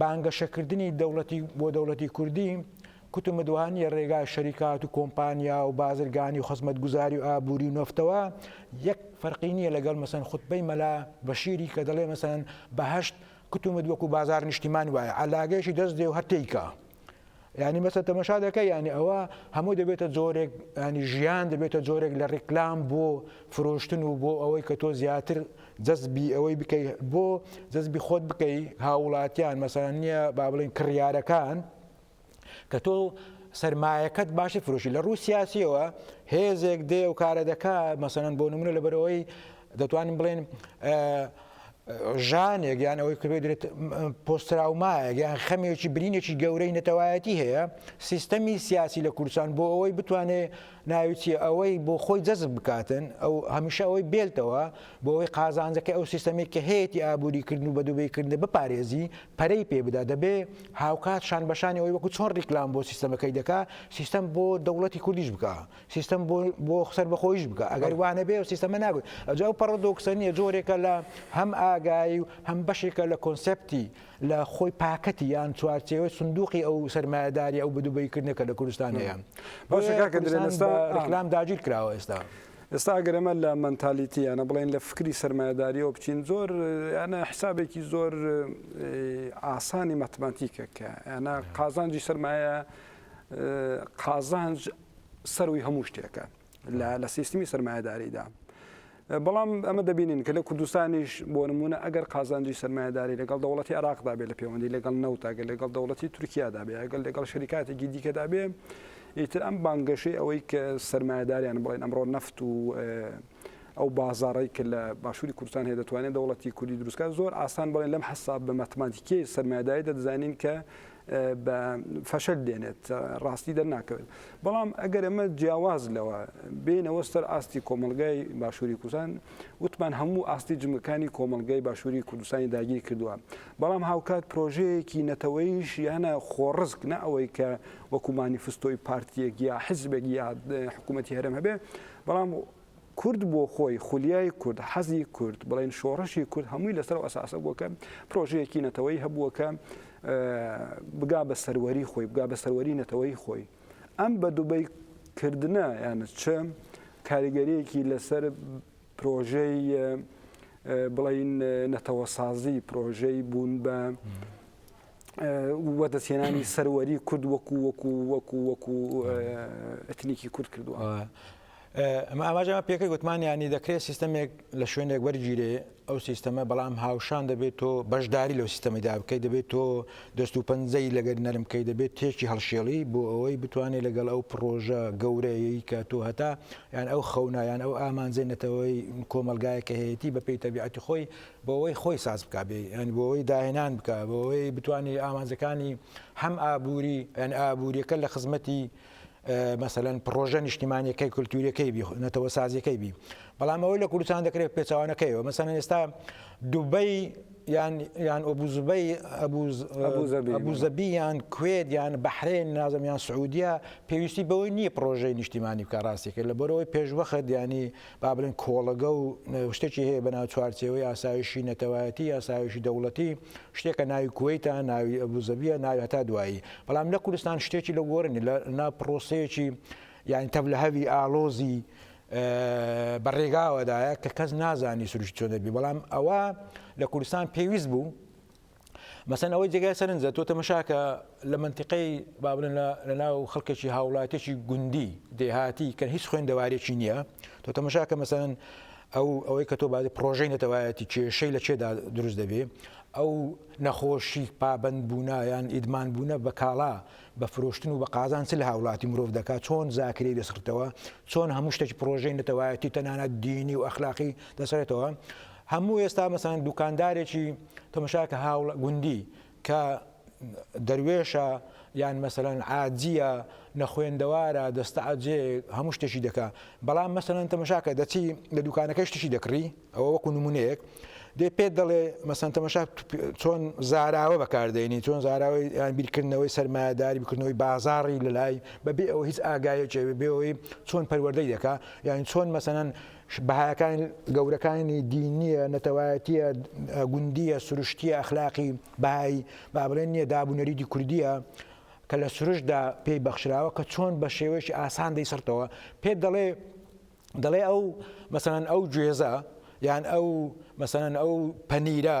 Speaker 2: بانگەشەکردنی دەوڵەتی بۆ دەوڵەتی کوردی کوتمت وەها نییە ڕێگای شەریکات و کۆمپانیا و بازرگانی و خزمەتگوزاری و ئابووری و نۆفتەوە یەک فەرقی نییە لەگەڵ مەسەن خوتبەی مەلا بەشیری کە دەڵێ مەسەن بەهشت کوتمت وەکو بازار نیشتیمان وایە عەلاگەیشی دەست دێ و هەر تێیکە یانی بەسە تەمەشا دەکە یانی ئەوە هەموو دەبێتە جۆرێک ینی ژیان دەبێتە جۆرێک لە ڕیکلام بۆ فرۆشتن و بۆ ئەوەی کە تۆ زیاتر جەزبی ئەوەی بکەی بۆ جەزبی خۆت بکەی هاوڵاتیان مەسەران نییە با بڵین کڕیارەکان کە تۆ سرمایەکەت باشی فرۆشی لە ڕوو سیاسیەوە هێزێک دێ و کارە دەکات مەسەن بۆ نمونە لەبەرەوەی دەتوانین بڵێین ژانێک یان ئەوەی کە بێت پۆستراومایەک یان خەمێکی برینێکی گەورەی نەتەوایەتی هەیە سیستەمی سیاسی لە کوردستان بۆ ئەوەی بتوانێ ناویچی ئەوەی بۆ خۆی جەزب بکاتن ئەو هەمیشە ئەوەی بێلتەوە بۆ ئەوەی قازانجەکە ئەو سیستەمێک کە هەیەی ئابووری کردن و بەدوبیکردن بپارێزی پەرەی پێ بدا دەبێ هاوکات شان بەشانی ئەوەی وەکو چۆن ریکلام بۆ سیستەمەکەی دەکا سیستەم بۆ دەوڵەتی کوردیش بکە سیستەم بۆ سەربەخۆیش بکە ئەگەر وانە بێ سیستەمە نابێت ئەجا و پەڕۆدۆکسە نیە جۆرێکە لە هەم ئاگایی و هەم بەشێکە لە کۆنسپتی لە خۆی پاکەتی یان چوارچێوە سندوقی ئەو سەرمایهداری ئەو بدوبیکردنە کە لە کوردستانەیە بەڵام داگیر کراوە ئێستا. ئێستا گەرەمە
Speaker 1: لە منتالیتیانە بڵێن لە فکری سرمایهداریەوە بچین زۆر یانە حسابێکی زۆر ئاسانی مەتماتیکە کە یانە قازانجی سرمایە قازانج سەرووی هەموو شتێکە لە سیستمی سرمایهداریدا. بەڵام ئەمە دەبینین کە لە کوردستانیش بۆ نمونە ئەگەر قازانجی سرمایهداری لەگەڵ دەوڵەتی عراقدا بێ لە پەیوەندی لەگەڵ نەوتاگە لەگەڵ دەوڵەتی تورکیادا بێ ئەگەل لەگەڵ شریکاتێکی دیکەدا بێ ئیتر ئەم بانگەشەی ئەوەی کە سرمایهداریان بڵێن ئەمڕۆ نەفت و ئەو بازارڕی کە لە باشووری کوردستان هەیە دەتوانێت دەوڵەتی کوردی دروستکە زۆر ئاسان بڵێن لەم حساب بە مەتماتیکی سرمایهداری دەدەزانین کە بە فەشەل دێنێت ڕاستی دەرناکەوێت بەڵام ئەگەر ئەمە جیاواز لەوە بینەوە سەر ئاستی کۆمەلگای باشووری کوردستان وتمان هەموو ئاستی جمەکانی کۆمەلگای باشووری کوردستانی داگیر کردووە بەڵام هاوکات پرۆژەیەکی نەتەوەیش یانە خۆڕزک نە ئەوەی کە وەکومانی فستۆی پارتیەک یا حزبێک یا حکوومەتتی هەرم هەبێ بەڵام کورد بۆ خۆی، خولیای کورد، حەزی کورد، بڵێن شۆڕشی کورد هەمووی لەسەر ئەو ئەساسە بووە کە پرۆژەیەکی نەتەوەیی هەبووە کە بگا بە سەروەری خۆی، بگا بە سەروەری نەتەوەیی خۆی. ئەم بە دوبەی کردنە یانە چ کاریگەریەکی لەسەر پرۆژەی بڵین نەتەوەسازی پرۆژەی بوون بە وەدەستهێنانی سەروەری کورد وەکو وەکو وەکو وەکو ئەتنیکی کورد کردووە
Speaker 2: ئەمە ئاماژەمە پێکە گوتمان ینی دەکرێت سیستەمێک لە شوێنێک وەرگیرێ ئەو سیستەمە بەڵام هاوشان دەبێت تۆ بەشداری لەو سیستەمەدا بکەیت دەبێت تۆ دەست و پەنجەی لەگەر نەرمکەی دەبێت تێکی هەڵشێڵی بۆ ئەوەی بتوانێت لەگەڵ ئەو پرۆژە گەورەیەی کە تۆ هەتا یان ئەو خەونایان ئەو ئامانجەی نەتەوەی کۆمەلگایە کە هەیەی بە پێی تەبیعەتی خۆی بۆوەی خۆی ساز بکا بێ یانی بۆوەی داهێنان بکا بۆوەی بتوانێ ئامانجەکانی هەم ئابووری یان ئابووریەکە لە خزمەتی مەسەلەن پرۆژە نیشتیمانەکەی کولتوریەکەی بی نەتەوە سازیەکەی بی بەڵام ئەوەی لە کوردستان دەکرێت پێچوانەکەیەوە مەسەن ئێستا دوبەی یان یان ئۆبوزبەی ئەبوزەبی یان کوێت یان بەحرێن نازم یان سعودیا پێویستی بەوەی نییە پرۆژەی نیشتیمانی بکە ڕاستیکە لە بەرەوەی پێشوەخت ینی با بڵێین کۆڵەگە و شتێکی هەیە بەناو چوارچێوەی ئاسایشی نەتەوایەتی، ئاسایشی دەوڵەتی، شتێکە ناوی کوەیتە، ناوی ئەبوزەبیە، ناوی هەتا دوایی، بەڵام لە کوردستان شتێکی لەو گۆرە نیە، لەناو پڕۆسەیەکی یانی تەڤلهەوی ئاڵۆزی بە رێگاوەدایە کە کەس نازانی سروشتی چۆن دەبی، بەڵام ئەوە لە کوردستان پێویست بوو، مەسەن ئەوەی جێگای سەرنجە تۆ تەمەشاکە لە منتیقەی بابلن لە ناو خەڵکێکی هاوڵاتێکی گوندی دێهاتی کە هیچ خوێندەوارێکی نییە تۆ تەمەشاکە مەسەن ئەو ئەوەی کە تۆ بازی پرۆژەی نەتەوایەتی کێشەی لە چێدا دروست دەبێ ئەو نەخۆشی پابند بوونە یان ئیدمان بوونە بە کاڵا بە فرۆشتن و بە قازان چ لە هاوڵاتی مرۆڤ دەکات چۆن زاکری دەسرتەوە چۆن هەموو شتێکی پرۆژەی نەتەوایەتی تەنانەت دینی و ئەخلاقی دەسرێتەوە هەموو ئێستا مەسەلەن دوکاندارێکی تەمەشاکە هاوڵ گوندی کە دەروێشە یان مەسەلەن عاجیە نەخوێندەوارە دەستەعجێ هەموو شتێکی دەکا بەڵام مەسەلەن تەمەشاکە دەچی لە دوکانەکە شتشی دەکڕی ئەوە وەکو نمونەیەک دێ پێ دەڵێ مەسەن تەمەشا چۆن زاراوە بەکاردێنی چۆن زاراوەی یان بیرکردنەوەی سەرمایهداری بکردنەوەی بازاری لە لای بەبێ ئەوە هیچ ئاگایەکێ بێەوەی چۆن پەروەردەی دەکا یان چۆن مەسەن بەهایەکانی، گەورەکانی، دینییە، نەتەوایەتییە، گوندییە، سروشتییە، ئەخلاقی، بەهایی، با بڵێین نییە، داب و نەریتی کوردییە کە لە سروشتدا پێی بەخشراوە کە چۆن بە شێوەیەکی ئاسان دەیسڕتەوە، پێت دەڵێ، دەڵێ ئەو، مەسەلەن ئەو گوێزە، یان ئەو، مەسەلەن ئەو پەنیرە،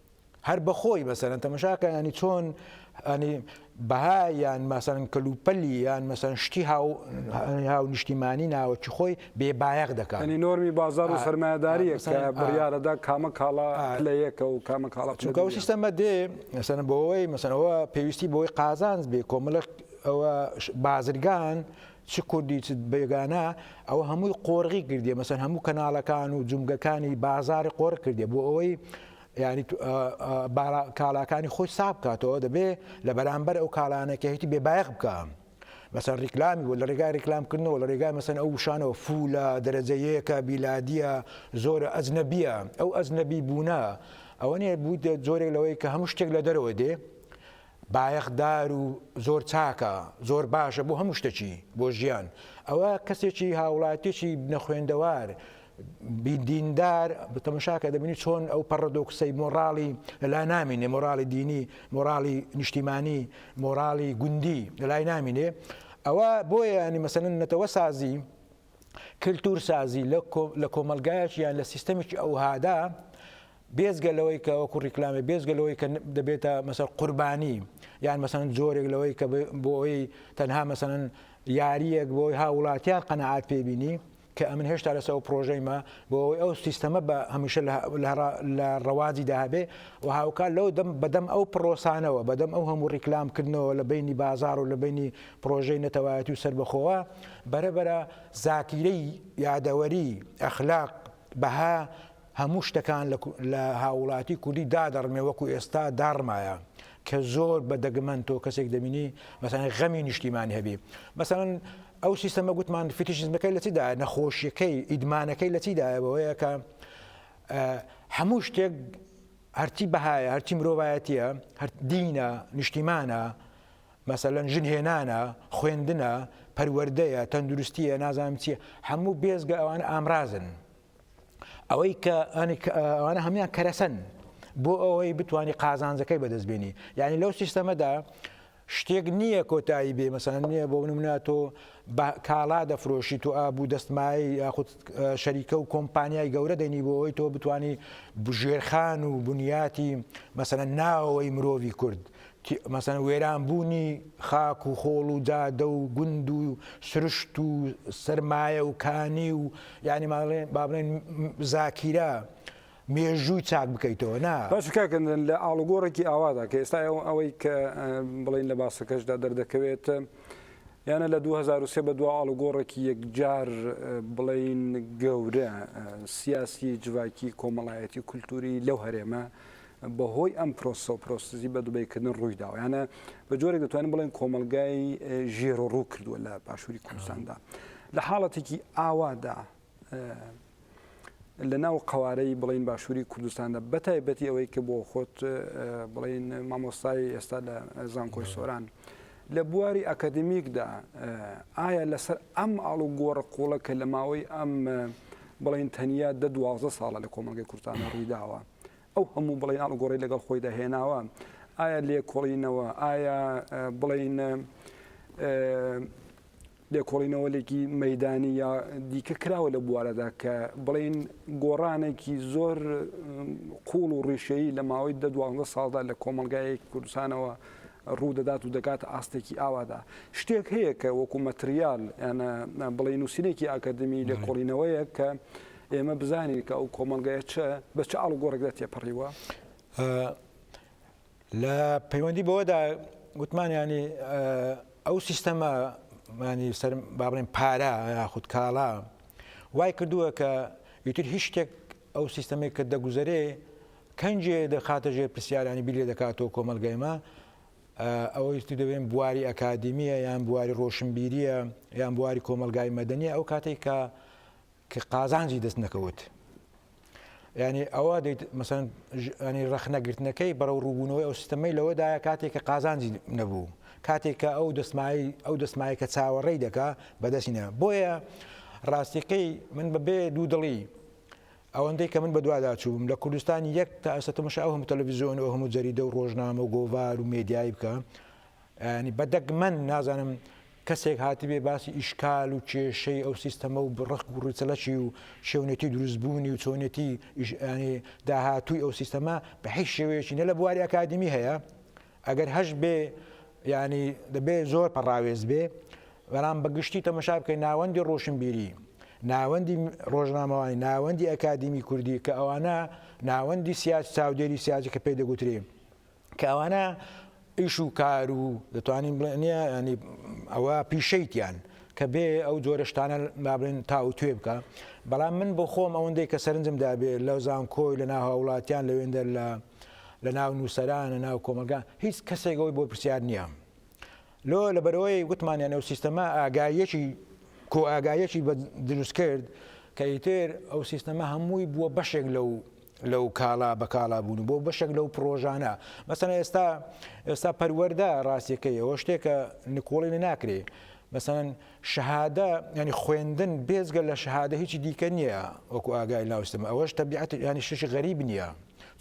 Speaker 2: هەر بەخۆی مەسەلەن تەمەشاکە ینی چۆن ئەنی بەها یان مەسەن کەلوپەلی یان مەسەن شتی هاو نیشتیمانی ناوەکی خۆی بێ بایەق دەکات ینی نۆرمی بازار و
Speaker 1: سەرمایهداری بڕارەدا کامە کاڵا لە یەکە و کامە کاڵا چونکە سیستەمە دێ
Speaker 2: مەسەن بۆەوەی مەسەنەوە پێویستی بۆی قازانز بێ کۆمەلک ئەوە بازرگان چ کوردی چ بێگانە ئەوە هەمووی قۆرغی کردیە مەسەن هەموو کەناڵەکان و جومگەکانی بازاری قۆرغ کردێ بۆ ئەوەی ینی کالاکانی خۆی ساب بکاتەوە دەبێ لە بەرامبەر ئەو کالانەکە هیچی بێبایەق بکە مەسەر ریکلامی و لە ڕێگای ریکلامکردنەوە لە ڕێگای مەسەن ئەو وشانەوە فولە دەرەجەیەکە بیلادیە زۆرە ئەزنەبیە ئەو ئەزنەبی بوونە ئەوە نیە بوو جۆرێک لەوەی کە هەموو شتێک لە دەرەوە دێ بایەخ دار و زۆر چاکە زۆر باشە بۆ هەموو شتەکی بۆ ژیان ئەوە کەسێکی هاوڵاتیەکی نەخوێندەوار دیندار بتەمەشاکە دەبینی چۆن ئەو پەڕدۆکسەی مۆڕاڵی لەلا نامینێ مۆراڵی دینی مۆراڵی نیشتیمانی مۆراڵی گوندی لەلای نامینێ ئەوە بۆیە ینی مەسەن نەتەوە سازی کللتور سازی لە کۆمەلگایەکی یان لە سیستەمێکی ئەوهادا بێجگە لەوەی کە وەکو ڕیکلامێ بێجگە لەوەی کە دەبێتە مەسەر قوربانی یان مەسەن جۆرێک لەوەی کە بۆی تەنها مەسەن یاریەک بۆی هاوڵاتیان قەنەعات پێبینی کە ئەمن هێشتا لەسەر ئەو پرۆژەیمە بۆ ئەوەی ئەو سیستەمە بە هەمیشە لە ڕەواجی داهبێ و هاوکار لەو دەم بەدەم ئەو پرۆسانەوە بەدەم ئەو هەموو ڕیکلامکردنەوە لە بینی بازار و لە بینی پرۆژەی نەتەوایەتی و سربەخۆوە بەرەبەرە زاکیرەی یادەوەری ئەخلاق بەها هەموو شتەکان لە هاووڵاتی کوردی دادەڕمێ وەکو ئێستا داڕمایە کە زۆر بە دەگمەن تۆ کەسێک دەبینی مەسەلەن غەمی نیشتیمانی هەبی مەسەلەن ئەو سیستەمە گوتمان فیتیشزمەکەی لە چیدا نەخۆشیەکەی ئیدمانەکەی لە چیدایە بەوەیە کە هەموو شتێک هەرچی بەهایە هەرچی مرۆڤایەتیە هەر دینە نیشتیمانە مەسەلەن ژن هێنانە خوێندنە پەروەردەیە تەندروستیە نازانم چیە هەموو بێزگە ئەوان ئامرازن ئەوەی کە ئەوانە هەموان کەرەسەن بۆ ئەوەی بتانی قازانجەکەی بەدەست بێنی یعنی لەو سیستەمەدا شتێک نییە کۆتایی بێ مەسان نییە بۆ منە تۆ کاڵا دەفرۆشی تو ئابوو دەستمای یاخود شەریکە و کۆمپانیای گەورە دەنی بۆ ئەوی تۆ بتانی بژێرخان و بنیاتی مەسەن ناوەوەی مرۆڤی کورد مەسەن وێران بوونی خاک و خۆڵ و جادە و گوند و سروشت و سەرمایە و کانی و یانی ماڵێن با بڵێن زاکیرە مێژووی چاک بکەیتەوە نا باش کاکەندن لە
Speaker 1: ئاڵوگۆڕێکی ئاوادا کە ئێستا ئەوەی کە بڵین لە باسەکەشدا دەردەکەوێت یانە لە 2023 بە دو ئاڵوگۆڕێکی یەکجار بڵین گەورە سیاسی جڤاکی کۆمەڵایەتی کولتوری لەو هەرێمە بەهۆی ئەم پرۆسەو پرۆسزی بە دوبەیکردن ڕووی داوە یانە بە جۆرێک دەتوانین بڵێن کۆمەلگای ژێر و ڕوو کردووە لە باشووری کوردستاندا لە حاڵەتێکی ئاوادا لە ناو قوارەی بڵین باشووری کوردستاندا بەتایبەتی ئەوەی کە بۆ خۆت بڵین مامۆستای ئێستا لە زانکۆی سۆران. لە بواری ئەکادمیکدا ئایا لەسەر ئەم ئاڵ و گۆڕە قوڵە کە لە ماوەی ئەم بڵین تەنیا دە دوازە ساڵە لە کۆمەلگەی کورتانە ڕوویداوە. ئەو هەموو بڵێین ئاڵوگۆڕەی لەگەڵ خۆیدا هێناوە، ئایا لێکۆڵینەوە، ئایا بڵێین لێکۆڵینەوەێکی مەدانی یا دیکە کراوە لە بوارەدا کە بڵێین گۆڕانێکی زۆر قوڵ و ڕیشەیی لە ماوەی دە دوازدە ساڵدا لە کۆمەلگایەکی کوردستانەوە ڕوودەدات و دەکات ئاستێکی ئاوادا شتێک هەیە کە وەکو مەتریال یانە بڵێ نووسینێکی ئاکادمی لێکۆڵینەوەیە کە ئێمە بزانین کە ئەو کۆمەلگایە چ بە چ ئاڵوگۆڕێکدا تێپەڕیوە؟
Speaker 2: لە پەیوەندی بەوەدا گوتمانیانی ئەو سیستەمە مانی سەر با بڵێن پارە یاخود کاڵا وای کردووە کە ئیتر هیچ شتێک ئەو سیستەمێک کە دەگوزەرێ کەنجێ دەخاتە ژێر پرسیارانی بیلێ دەکاتەوە کۆمەلگایمە ئەوەیستی دەبێن بواری ئەکادمیە یان بواری ڕۆشنبیریە یان بواری کۆمەلگای مەدەنی ئەو کاتێک کە کە قازانجی دەست نەکەوت ینی ئەوە دەیت مەسەن ینی ڕخنەگرتنەکەی بەرەو ڕووبوونەوەی ئەو سیستەمەی لەوەدایە کاتێک کە قازانجی نەبوو کاتێک کە ئەو دەستمایی ئەو دەستمایە کە چاوەڕێی دەکا بەدەستینە بۆیە ڕاستیقی من بەبێ دوو دڵی ئەوەندەی کە من بەدوادا چووم لە کوردستان یەک تا ئەسەتمشە ئەو هەموو تەلەڤزیۆن و هەموو جەریدە و ڕۆژنامە و گۆڤار و مێدیایی بکە یانی بە دەگمەن نازانم کەسێک هاتبێ باسی ئیشکال و کێشەی ئەو سیستەمە و بڕخک و ڕوچەلەکی و شێونێتی دروستبوونی و چۆنێتی ئیشانی داهاتووی ئەو سیستەمە بە هیچ شێوەیەکی نە لە بواری ئەکادمی هەیە ئەگەر هەش بێ ینی دەبێ زۆر پەڕاوێز بێ بەڵام بەگشتی تەمەشا بکەین ناوەندی ڕۆشنبیری ناوەندی ڕۆژنامەوانی ناوەندی ئەکادمی کوردی کە ئەوانە ناوەندی سیاسی چاودێری سیاسی کە پێ دەگوترێ کە ئەوانە ئیش و کار و دەتوانین بڵێ نیە ینی ئەوە پیشەیتیان کە بێ ئەو جۆرە شتانە نابێن تاوتێ بکە بەڵام من بۆ خۆم ئەوەندەی کە سەرنجم دابێ لە زانکۆی لە ناهاوڵاتیان لەوێندە لە لە ناو نووسەران لە ناو کۆمەلگا هیچ کەسێکەوەی بۆ پرسیار نییە لۆ لەبەرئەوەی وتمانیان ئەو سیستەمە ئاگاییەکی کۆ ئاگاییەکی بە دروست کرد کە ئیتر ئەو سیستەمە هەمووی بووە بەشێک لەو لەو کاڵا بە کاڵا بوون بۆ بەشێک لەو پرۆژانە مەسەنە ئێستا ئێستا پەروەەردە ڕاستیەکەی ئەوە شتێکە نکۆڵی لە ناکرێ مەسەن شەهادە یانی خوێندن بێجگە لە شەهادە هیچی دیکە نیە وەکو ئاگای ناو سیستەم ئەوەش تەبیعەت یانی شتێکی غەریب نیە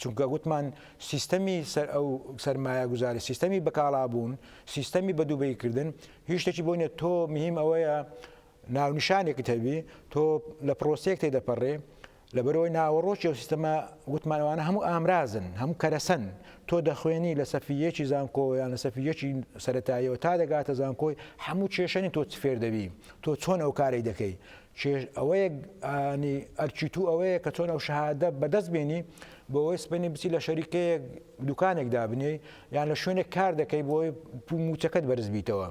Speaker 2: چونکە گوتمان سیستەمی سەر ئەو سەرمایە گوزاری سیستەمی بەکاڵابوون سیستەمی بەدوبەی کردن هیچ شتێکی بۆ نیە تۆ مهم ئەوەیە ناونیشانێکت هەبی تۆ لە پرۆسەیەک تێدەپەڕێ لەبەرئەوەی ناوەڕۆکی ئەو سیستەمە وتمان ئەوانە هەموو ئامرازن، هەموو کەرەسەن، تۆ دەخوێنی لە سەفی یەکی زانکۆ یان لە سەفی یەکی سەرەتاییەوە تا دەگاتە زانکۆی هەموو کێشە نین تۆ چ فێر دەبی، تۆ چۆن ئەو کارەی دەکەی، کێش ئەوەیە ئانی ئەرکی تو ئەوەیە کە چۆن ئەو شەهادە بەدەست بێنی بۆ ئەوەی سبەینێ بچی لە شەریکەیەک دوکانێک دابنێی یان لە شوێنێک کار دەکەی بۆ ئەوەی مووچەکەت بەرز بیتەوە.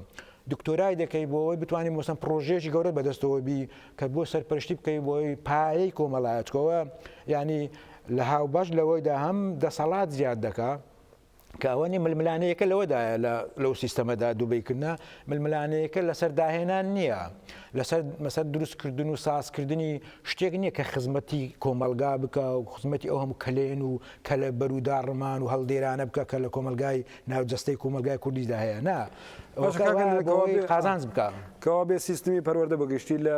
Speaker 2: دکتۆرای دەکەی بۆ ئەوەی بتوانی مەسەن پرۆژەیەکی گەورەت بەدەستەوە بی کە بۆ سەرپەرشتی بکەی بۆی پایەی کۆمەڵایەتکەوە ینی لە هاوبەش لەوەیدا هەم دەسەڵات زیاد دەکا کە ئەوە نیە ململانەیەکە لەوەدایە لەو سیستەمەدا دووبیکردە ململانەیەکە لەسەر داهێنان نییە لەسەر مەسەر دروستکردن و سازکردنی شتێک نییە کە خزمەتی کۆمەلگا بکە و خزمەتی ئەو هەموو کەلێن و کەلە بەروداڕمان و هەڵدێرانە بکە کە لە کۆمەلگای ناو جەستەی کۆمەلگای کوردیشدا هەیە نا باشە کاکە ئەوەکە کەوا بۆی بێ قازانج بکا. کەوا بێ سیستمی
Speaker 1: پەروەردە بە گشتی لە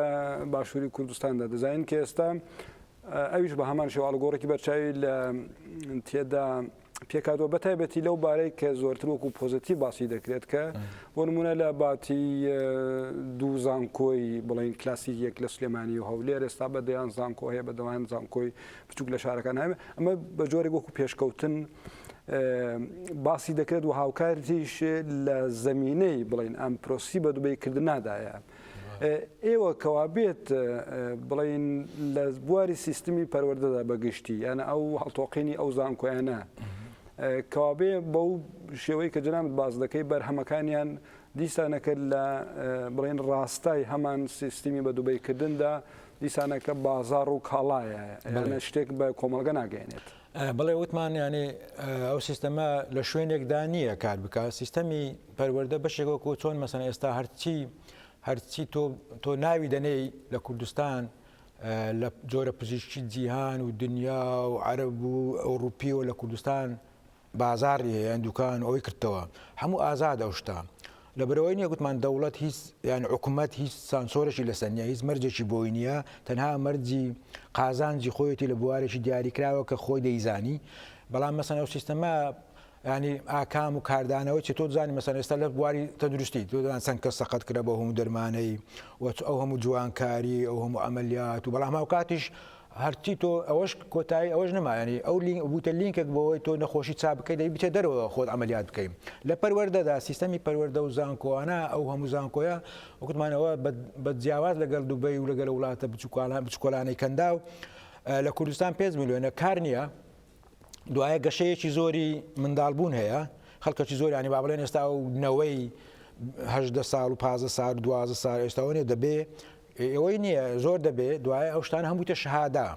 Speaker 1: باشووری کوردستاندا دەزانین کە ئێستا ئە ئەویش بە هەمان شێوە ئاڵوگۆڕێکی بەرچاوی لە تێدا پێک هاتووە بە تایبەتی لەو بارەی کە زۆرتر وەکوو پۆزەتیڤ باسی دەکرێت کە بۆ نموونە لە باتی ئە، دوو زانکۆی بڵێن کلاسیک یەک لە سلێمانی و هەولێر ئێستا بە دەیان زانکۆ هەیە بە دەوایان زانکۆی بچوک لە شارەکان ناوێ ئەمە بە جۆرێک وەکو پێشکەوتن باسی دەکرێت و هاوکارتیش لە زمینەی بڵین ئەم پرۆسی بە دوبی کردنادایە. ئێوە کەوابێت بڵین لە بواری سیستمی پەروەردەدا بەگشتی یانە ئەو هەڵتۆقینی ئەو زانکۆیانە کەوابێ بەو شێوەی کە جنامت باز دەکەی بەرهەمەکانیان دیسانەکرد لە بڵێن ڕاستای هەمان سیستمی بە دوبیکردندا دیسانەکە بازاڕ و کاڵایە یانە شتێک بە کۆمەڵگە ناگەێنێت. بڵێ وتمان
Speaker 2: یانێ ئەو سیستەمە لە شوێنێکدا نییە کار بکە سیستەمی پەروەەردە بەشێکەوە کۆ چۆن مەسەن ئێستا هەرچی هەرچی تۆ ناوی دەنێی لە کوردستان لە جۆرە پزیشکی جیهان و دنیا و عرب و ئەوروپی و لە کوردستان بازاڕی هەیە یان دوکان ئەوەی کردتەوە هەموو ئازاد ئەو شتە لەبەرەوەی نیە گوتمان دەوڵەت هیچ یان حکوومەت هیچ سانسۆرەشی لەسەر نیە هیچ مەرجێکی بۆی نییە تەنها مەرجی قازانجی خۆیەتی لە بوارێکی دیاریکراوە کە خۆی دەیزانی بەڵام مەسەن ئەو سیستەما ینی ئاکام و کاردانەوەی چ تۆ زانانی مەسەن ئێستا لە بواری تەندروستی تۆدان چەند کە سەقەت کرە بۆ هەموو دەرمانەی وەچ ئەو هەموو جوانکاری ئەو هەموو ئەمەلیات و بەڵام هاوکاتیش هەر چی تۆ ئەوەش کۆتایی ئەوەش نەما یانی ئەو لینک بوتە لینکێک بۆەوەی تۆ نەخۆشی چا بکەیت دەی بچێت دەرەوە خۆت عملیات بکەین لە پەروەردەدا سیستەمی پەروەردە و زانکۆوانە ئەو هەموو زانکۆیە وکتمانەوە بە جیاواز لەگەڵ دوبەی و لەگەل وڵاتە بچکالان بچکۆلانەی کەندا و لە کوردستان پێ میلیۆنە کار نییە دوایە گەشەیەکی زۆری منداڵبوون هەیە خەڵکەکی زۆرانی با بڵێن ئێستا و نەوەی هەدە ساڵ و پازە سار دوازە سار ئێستاوەێ دەبێ ئێ ئەوەی نیە زۆر دەبێ دوایە ئەو شتانە هەم بویتە شەهادە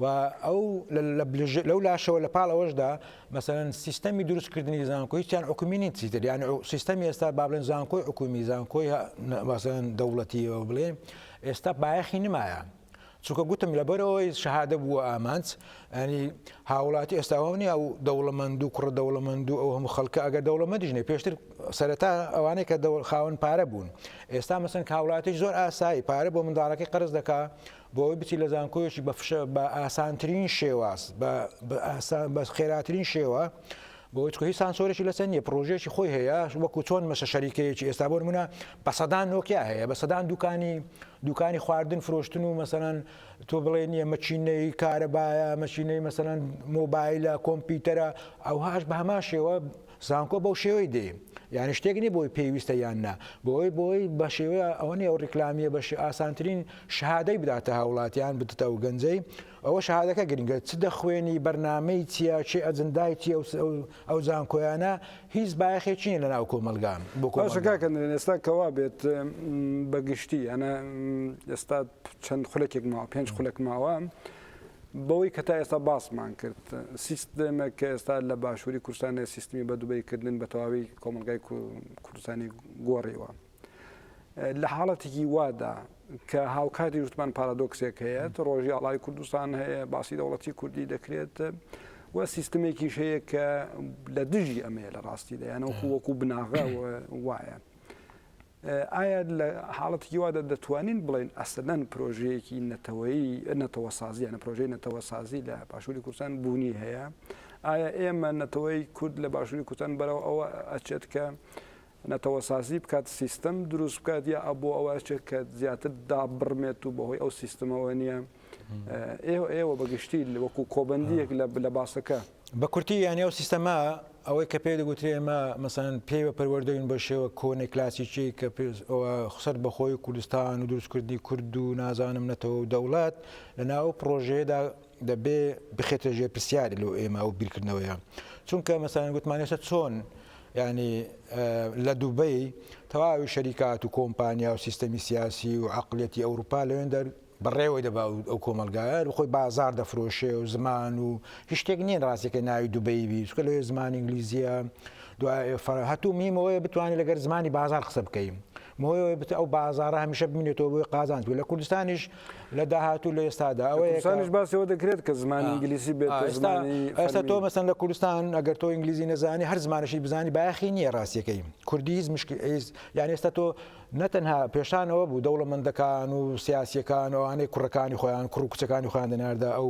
Speaker 2: و ئەو لەو لاشەوە لە پاڵ ئەوەشدا مەسەن سیستەمی دروست کردنی زانکۆ هیچیان حکومی نین چیتر یان سیستەمی ئێستا با بڵێن زانکۆی حکومی زانکۆی مەسەن دەوڵەتیەوە بڵێ ئێستا بایەخی نمایە چونکە گوتم لەبەرەوەی شەهادە بووە ئامانج یانی هاوڵاتی ئێستا ئەوە نیە ئەو دەوڵەمەند و کوڕە دەوڵەمەند و ئەو هەموو خەڵکە ئەگەر دەوڵەمەندیش نیە پێشتر سەرەتا ئەوانەی کە دەوڵ خاوەن پارە بوون ئێستا مەسەن هاوڵاتیش زۆر ئاسایی پارە بۆ منداڵەکەی قەرز دەکا بۆی بچی لە زانکۆیەکی بە فشە بە ئاسانترین شێواز بە خێراترین شێوە بۆی هیچ سانسۆرێکی لەسەر نیە پرۆژێکی خۆی هەیە وەکو چۆن مەسە شەریکەیەکی ئێستا بۆ منە بە سەدان نۆکیا هەیە بە سەدان دوکانی دوکانی خواردن فرۆشتن و مەسەەن تۆ بڵێن یە مەکینەی کارەبایە مەکینەی مەسەلەن مۆبایلە کۆمپیوتەرە ئەوهاش بە هەمان شێوە زانکۆ بەو شێوەی دێ یعنی شتێک نیە بۆی پێویستە یان نا بۆی بۆی بە شێوەیە ئەوە نیە ئەو ڕیکلامیە بە ئاسانترین شهادەی بداتە هاوڵاتیان بدتە و گەنجەی ئەوە شهادەکە گرنگە چ دەخوێنی بەرنمەی چیە چی ئەجندای چی ئەو زانکۆیانە هیچ بایەخێکی نیە لەناو کۆمەلگا بۆ کۆمەلگا. باشە کاکە نەرێن
Speaker 1: ئێستا کەوا بێت بە گشتی یانە ئێستا چەند خولەکێک ماوە پێنج خولەک ماوە بەوەی کە تا ئێستا باسمان کرد سیستمێک کە ئێستا لە باشووری کوردستان سیستمی بە دوبەی کردن بە تەواوی کۆمەلگای کوردستانی گۆڕیوە. لە حاڵەتێکی وادا کە هاوکاری وتمان پارادۆکسێک هەیە ڕۆژی ئاڵای کوردستان هەیە باسی دەوڵەتی کوردی دەکرێت و سیستمێکی هەیە کە لە دژی ئەمەیە لە ڕاستی دەیانەوە وەکو بناغە وایە. ئایا لە حاڵەتکی وادا دەتوانین بڵین ئەسلەن پرۆژەیەکی نەتەوەی نەتەوە سازیانە پرۆژەی نەتەوە سازی لە باشووری کوردستان بوونی هەیە ئایا ئێمە نەتەوەی کورد لە باشووری کوردستان بەرەوە ئەوە ئەچێت کە نەتەوەسازی بکات، سیستەم دروست بکات یا بۆ ئەوە ئەچێت کە زیاتر دابڕمێت و بەهۆی ئەو سیستمەوە نییە؟ ئێوە ئێوە بەگشتی وەکو کۆبەندیەک لە باسەکە. بە کورتی یانی
Speaker 2: ئەو سیستەمە ئەوەی کە پێی دەگوترێ ئێمە مەسەن پێی بە پەروەردەوین بە شێوە کۆنە کلاسیکی کە خسەر بەخۆی کوردستان و دروستکردنی کورد و نازانم نەتەوە و دەوڵەت لە ناو پرۆژەیەدا دەبێ بخێتە ژێر پرسیار لۆ ئێمە ئەو بیرکردنەوەیە چونکە مەسەلەن گوتمان ئێستا چۆن یعنی لە دوبەی تەواوی شەریکات و کۆمپانیا و سیستەمی سیاسی و عقلەتی ئەوروپا لەوێن دەر بەڕێوەی دەبا ئەو کۆمەلگایە خۆی بازار دەفرۆشێ و زمان و هیشتێک نییە ڕاستەکە ناوی دوبەی بی چکە لەوێ زمان ئینگلیزیە دوای هەتوو میمەوەی بتوانانی لەگەر زمانی بازار قسە بکەین بەهۆی ئەوەی بت ئەو بازارە هەمیشە بمینێتەوە بۆی قازانج و لە کوردستانیش لە داهاتوو لە ئێستادا ئەوەیانش باسەوە
Speaker 1: دەکرێت کە زمان ئینگلیسی بێت ئێستا تۆ
Speaker 2: مەسەن لە کوردستان ئەگەر تۆ ئینگلیزی نەزانانی هەر زمانشی بزانانی باخی نییە ڕاستیەکەی کوردی هیچ مشک یان ئێستا تۆ نەتەنها پێشانەوە بوو دەوڵەمەندەکان و سیاسەکان ئەوانەی کوڕەکانی خۆیان کوڕ و کچەکانی خۆیان دەناردە ئەو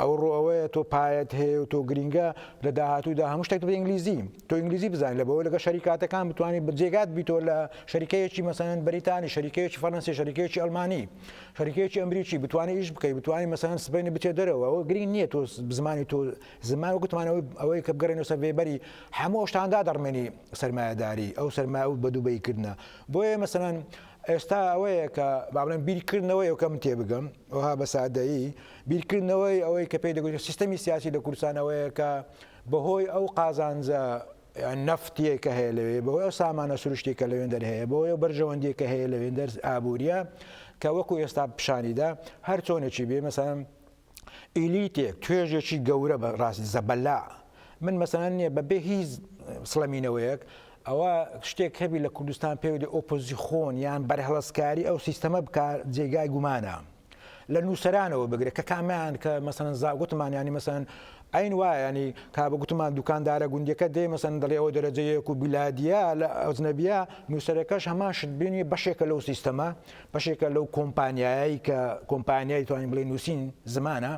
Speaker 2: ئەوڕۆ ئەوەیە تۆ پایەت هەیە و تۆ گرینگە لە داهاتوودا هەموو شتێک دەبێت ئینگلیزی تۆ ئینگلیزی بزانیت لە بەوە لەگە شەریکاتەکان بتوانیت بە جێگات بیتۆ لە شەریکەیەکی مەسەن بەریتانی شەریکەیەکی فەرەنسی شەریکەیەکی ئەلمانی شەریکەیەکی ئەمریکی بتوانانی ئیش بکەیت بتوانانی مەسەن سبینی بچێت دەرەوە ئەوە گرینگ نییە تۆ بزمانی تۆ زمان و گوتمانەوەی ئەوەی کە بگەڕێن و سەرێبەری هەموو ئەوشتاندا دەڕمێنی سەرمایەداری ئەو سەرما و بە دووبەی کردە بۆیە مەسەن ئێستا ئەوەیە کە با بڵێن بیرکردنەوەی ئەو کەم تێبگەم ئەوها بە سادەیی بیرکردنەوەی ئەوەی کە پێی دەگوترێت سیستەمی سیاسی لە کوردستان ئەوەیە کە بەهۆی ئەو قازانجە نەفتیە کە هەیە لەوێ بەهۆی ئەو سامانە سروشتی کە لەوێن دەرهەیە بەهۆی ئەو بەرژەوەندی کە هەیە لەوێن دەرز ئابووریە کە وەکو ئێستا پیشانیدا هەر چۆنێکی بێ مەسەن ئیلیتێک توێژێکی گەورە بە ڕاست زەبەلا من مەسەلەن نییە بە بێ هیچ سڵەمینەوەیەک ئەوە شتێک هەبی لە کوردستان پێوەی ئۆپۆزیخۆن یان بەرهڵستکاری ئەو سیستەمە بک جێگای گومانە. لە نووسرانەوە بگرێت کە کامیان کە مەسەن زاگوتمان ینی مەسەن ئەین وایانی کابە گوتمان دوکاندارە گوندەکە دێ مەسەن دەڵێ ئەو دەرەجەیەک و بیلادیا لە ئەوزنەبیە نووسەرەکەش هەمان شت بینی بەشێکە لەو سیستەما بەشێکە لەو کۆمپانیایی کە کۆمپانیای توانین بڵێ نووسین زمانە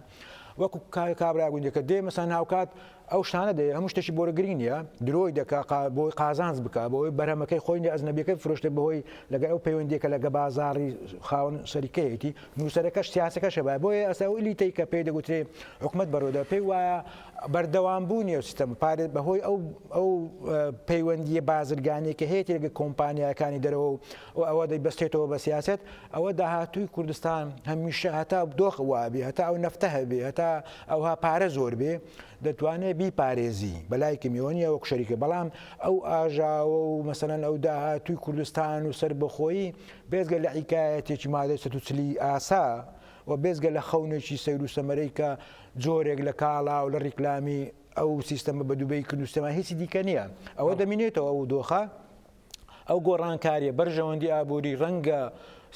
Speaker 2: وەکو کابرا گوندەکە دێ مەسان هاوکات ئەو شتانە دێ هەموو شتێکی بۆرە گرنگ نیە درۆی دەکا بۆی قازانز بک بۆی بەرەمەکەی خۆی ئەزنەبیەکە فرۆشتە بەهۆی لەگە ئەو پەیوەندێکە لەگە بازاری خاون سەریکەیەتی نووسەرەکەش سیاسەکە شەبای بۆیە ئەسا و لیتی کە پێی دەگوترێ حکومت بەرۆدا پێی وایە بەردەوام بوو نیە سیستم پارێت بەهۆی ئەو ئەو پەیوەندیە بازرگانێکە هەیەێگە کۆمپانیاکانی دەرەوە و و ئەوە دەیبەستێتەوە بە سیاسەت، ئەوە داهاتووی کوردستان هەمیشە هەتا دۆخ وابێ، هەتا ئەو نەفتە هەبێ، هەتا ئەوها پارە زۆر بێ، دەتوانێ بیپارێزی، بە لایکم ئێوە نییە وەک شەریکە، بەڵام ئەو ئاژاوە و مەسەلەن ئەو داهاتووی کوردستان و سەربەخۆیی بێجگە لە عیکایەتێکی مادەی سەد و چلی ئاسا و بێجگە لە خەونێکی سەیر و سەمەرەی کە جۆرێک لە کاڵا و لە ڕیکلامی ئەو سیستەمە بە دوبەی کردووە، هیچی دیکە نییە. ئەوە دەمینێتەوە ئەو دۆخە. ئەو گۆڕانکاریە بەرژەوەندی ئابوری ڕەنگە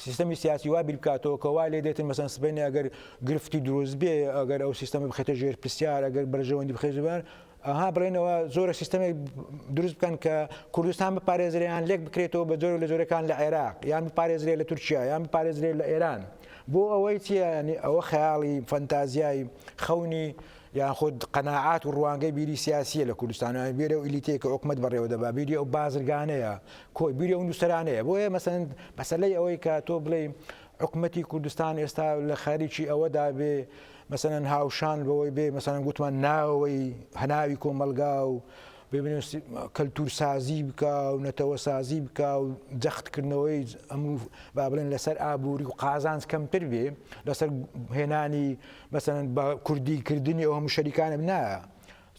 Speaker 2: سیستەمی سیاسی وا بیرکاتەوە کە وا لێ دێتن مەسەن سبەینێ ئەگەر گرفتی دروست بێ ئەگەر ئەو سیستەمی بخێتە ژێر پرسیار ئەگەر بەرژەوەندی بخێزبار ئەها بڵێنەوە زۆرە سیستەمێک دروست بکەن کە کوردستان بپارێزریان لێک بکرێتەوە بە جۆر لە جۆرەکان لە عێراق یان بپارێزرێ لە تورکیا یان بپارێزرێ لە ئێران بۆ ئەوەی چیانی ئەوە خەیاڵی فەنتازیای خەونی یان خود قەناعات و ڕوانگەی بیری سیاسییە لە کوردستان، یان بیری ئەو ئیلیتەی کە حکومەت بەڕێوە دەبا، بیری ئەو بازرگانەیە، کۆی بیری ئەو نووسەرانەیە. بۆیە مەسەلەن مەسەلەی ئەوەی کە تۆ بڵێی حکومەتی کوردستان ئێستا لە خەریکی ئەوە دابێ مەسەلەن هاوشان بەوەی بێ مەسەلەن گوتمان ناوەوەی هەناوی کۆمەڵگا و ببنووس کەلتوورسازی بکا و نەتەوەسازی بکا و جەختکردنەوەی ئەموو با بڵێن لەسەر ئابووری و قازانج کەمتر بێ لەسەر هێنانی مەسەن بە کوردی کردنی ئەو هەموو شەریکانە بنایە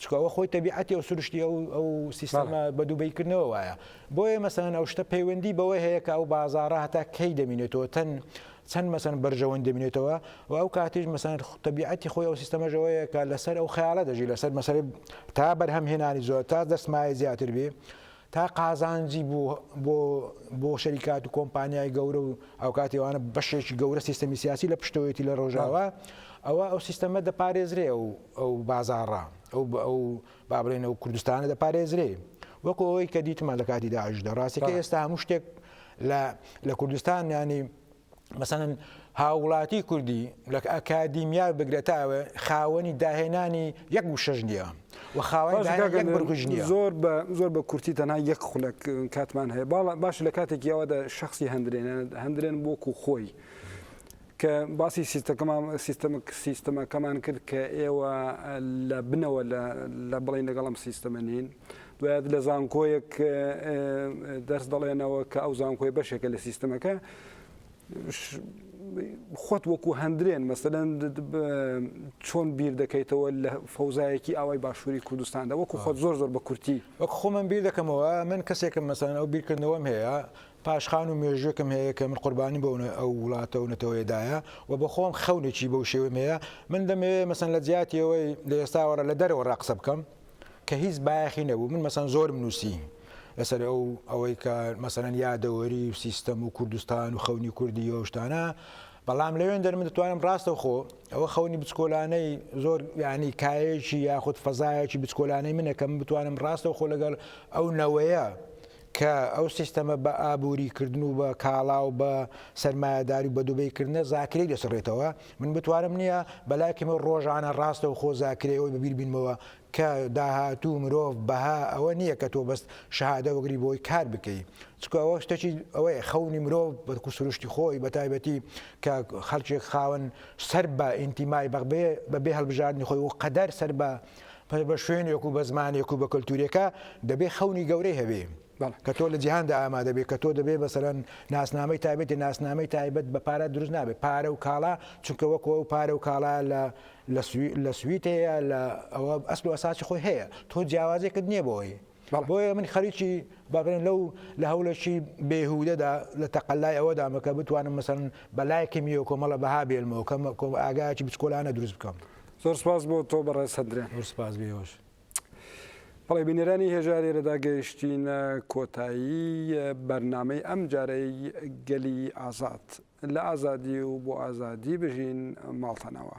Speaker 2: چکەوە خۆی تەبیعەتی ئەو سروشتی ئەو ئەو سیستەمە بە دووبیکردنەوە وایە بۆیە مەسەن ئەو شتە پەیوەندی بەوەی هەیە کە ئەو بازارە هەتا کەی دەمینێتەوە تەن چەند مەسەن بەرژەوەند دەبینێتەوە و ئەو کاتیش مەسەن تەبیعەتی خۆی ئەو سیستەمەش ئەوەیە کە لەسەر ئەو خەیاڵە دەژی لەسەر مەسەی تا بەرهەم هێنانی زۆر تا دەستمایە زیاتر بێ تا قازانجی بۆ بۆ بۆ شەریکات و کۆمپانیای گەورە و ئەو کاتیوانە بەشێکی گەورە سیستەمی سیاسی لە پشتەوەیەتی لە ڕۆژاوە ئەوە ئەو سیستەمە دەپارێزرێ و ئەو بازاڕە ئەو ئەو با بڵێین ئەو کوردستانە دەپارێزرێ وەکو ئەوەی کە دیتمان لە کاتی داعشدا ڕاستەکە ئێستا هەموو شتێک لە کوردستان ینی مەسەن هاوڵاتی کوردی لە ئەکادیمیار بگرێتاوە خاوەنی داهێنانی یەک وشەژ نییە و خاوەنیش نیە زۆر بە زۆر بە کورتی
Speaker 1: تەنا یەک خولک کاتمان هەیە باڵە باش لە کاتێکیەوەدا شخصی هەندرێن هەندرێن بۆکو خۆی. کە باسی سیستەکەمان سیستەمە سیستەمەکەمان کرد کە ئێوە لە بنەوە لە بڵین لەگەڵ ئەم سیستەمە نین دوایات لە زانکۆیەک دەرس دەڵێنەوە کە ئەو زانکۆی بەشێکە لە سیستەمەکە خۆت وەکو هەندرێن مەسەدەن چۆن بیر دەکەیتەوە لە فەوزایەکی ئاوای باشووری کوردستاندا وەکو خۆت زۆر زۆر بە کورتی وەک خۆمم بیر
Speaker 2: دەکەمەوە من کەسێکم مەسان ئەو بیرکردنەوەم هەیە پاشخان و مێژووێکم هەیە کە من قوربانیم بۆ ئەو وڵاتە و نەتەوەیە دایە و بە خۆم خەونێکی بەو شێوەم هەیە من دەمەوێت مەسەن لە جیاتی ئەوەی لە ئێستاوەڕە لە دەرەوە ڕاقسە بکەم کە هیچ بایەخی نەبوو من مەسەن زۆرم نووسی لەسەر ئەو ئەوەی کە مەسەرەن یادەوەری و سیستەم و کوردستان و خەونی کوردی یۆشتانە بەڵام لەوێن دەر من دەتوانم ڕاستە خۆ ئەوە خەونی بچکۆلانەی زۆر ینی کایەکی یاخود فەزایەکی بچکۆلانەی منەکەم بتوانم ڕاستە خۆ لەگەڵ ئەو نەوەیە کە ئەو سیستەمە بە ئابووری کردن و بە کاڵا و بە سەرمایەداری و بە دوبەی کردنە زاکرەی دەسڕێتەوە، من بتوانم نییە، بەلای کەمێ ڕۆژانە ڕاستەوخۆ زاکرەی ئەوەی بەبیر بینمەوە کە داهاتوو مرۆڤ بەها ئەوە نییە کە تۆ بەس شەهادە وەگری بۆی کار بکەی چکو ئەوە شتەکی ئەوەیە خەونی مرۆڤ بەکو سروشتی خۆی بە تایبەتی کە خەلکێک خاون سەر بە ئینتیمای بەغبێ بە بێ هەلبژاردنی خۆی و قەدەر سەر بە پەی بە شوێنێک و بە زمانێک و بە کەلتورێکە دەبێ خەونی گەورەی هەبێ کە تۆ لە جیهاندا ئامادە بێت کە تۆ دەبێ بەسەرەن ناسنامەی تایبەتی ناسنامەی تایبەت بە پارە دروست نابێت پارە و کاڵا چونکە وەکو ئەو پارە و کاڵا لە لە سویت هەیە لە ئەوە ئەسل و ئەساسی خۆی هەیە تۆ جیاوازێکت نییە بۆی بۆیە من خەریکی با بڵێین لەو لە هەوڵێکی بێهودەدا لە تەقەلای ئەوەدامە کە بتوانم مەسەن بە لای کمیەوە کۆمەڵە بەها بێنمەوە کەم کۆم ئاگایکی بچکۆلانە دروست بکەم زۆر سپاس بۆ
Speaker 1: تۆ بەڕێز هەندرێ زۆر سپاس بێوەش بەڵێ بینەرانی هێژارێرەدا گەیشتینە کۆتایی بەرنمەی ئەم جارەی گەلی ئازاد لە ئازادی و بۆ ئازادی بژین ماڵتەنەوە.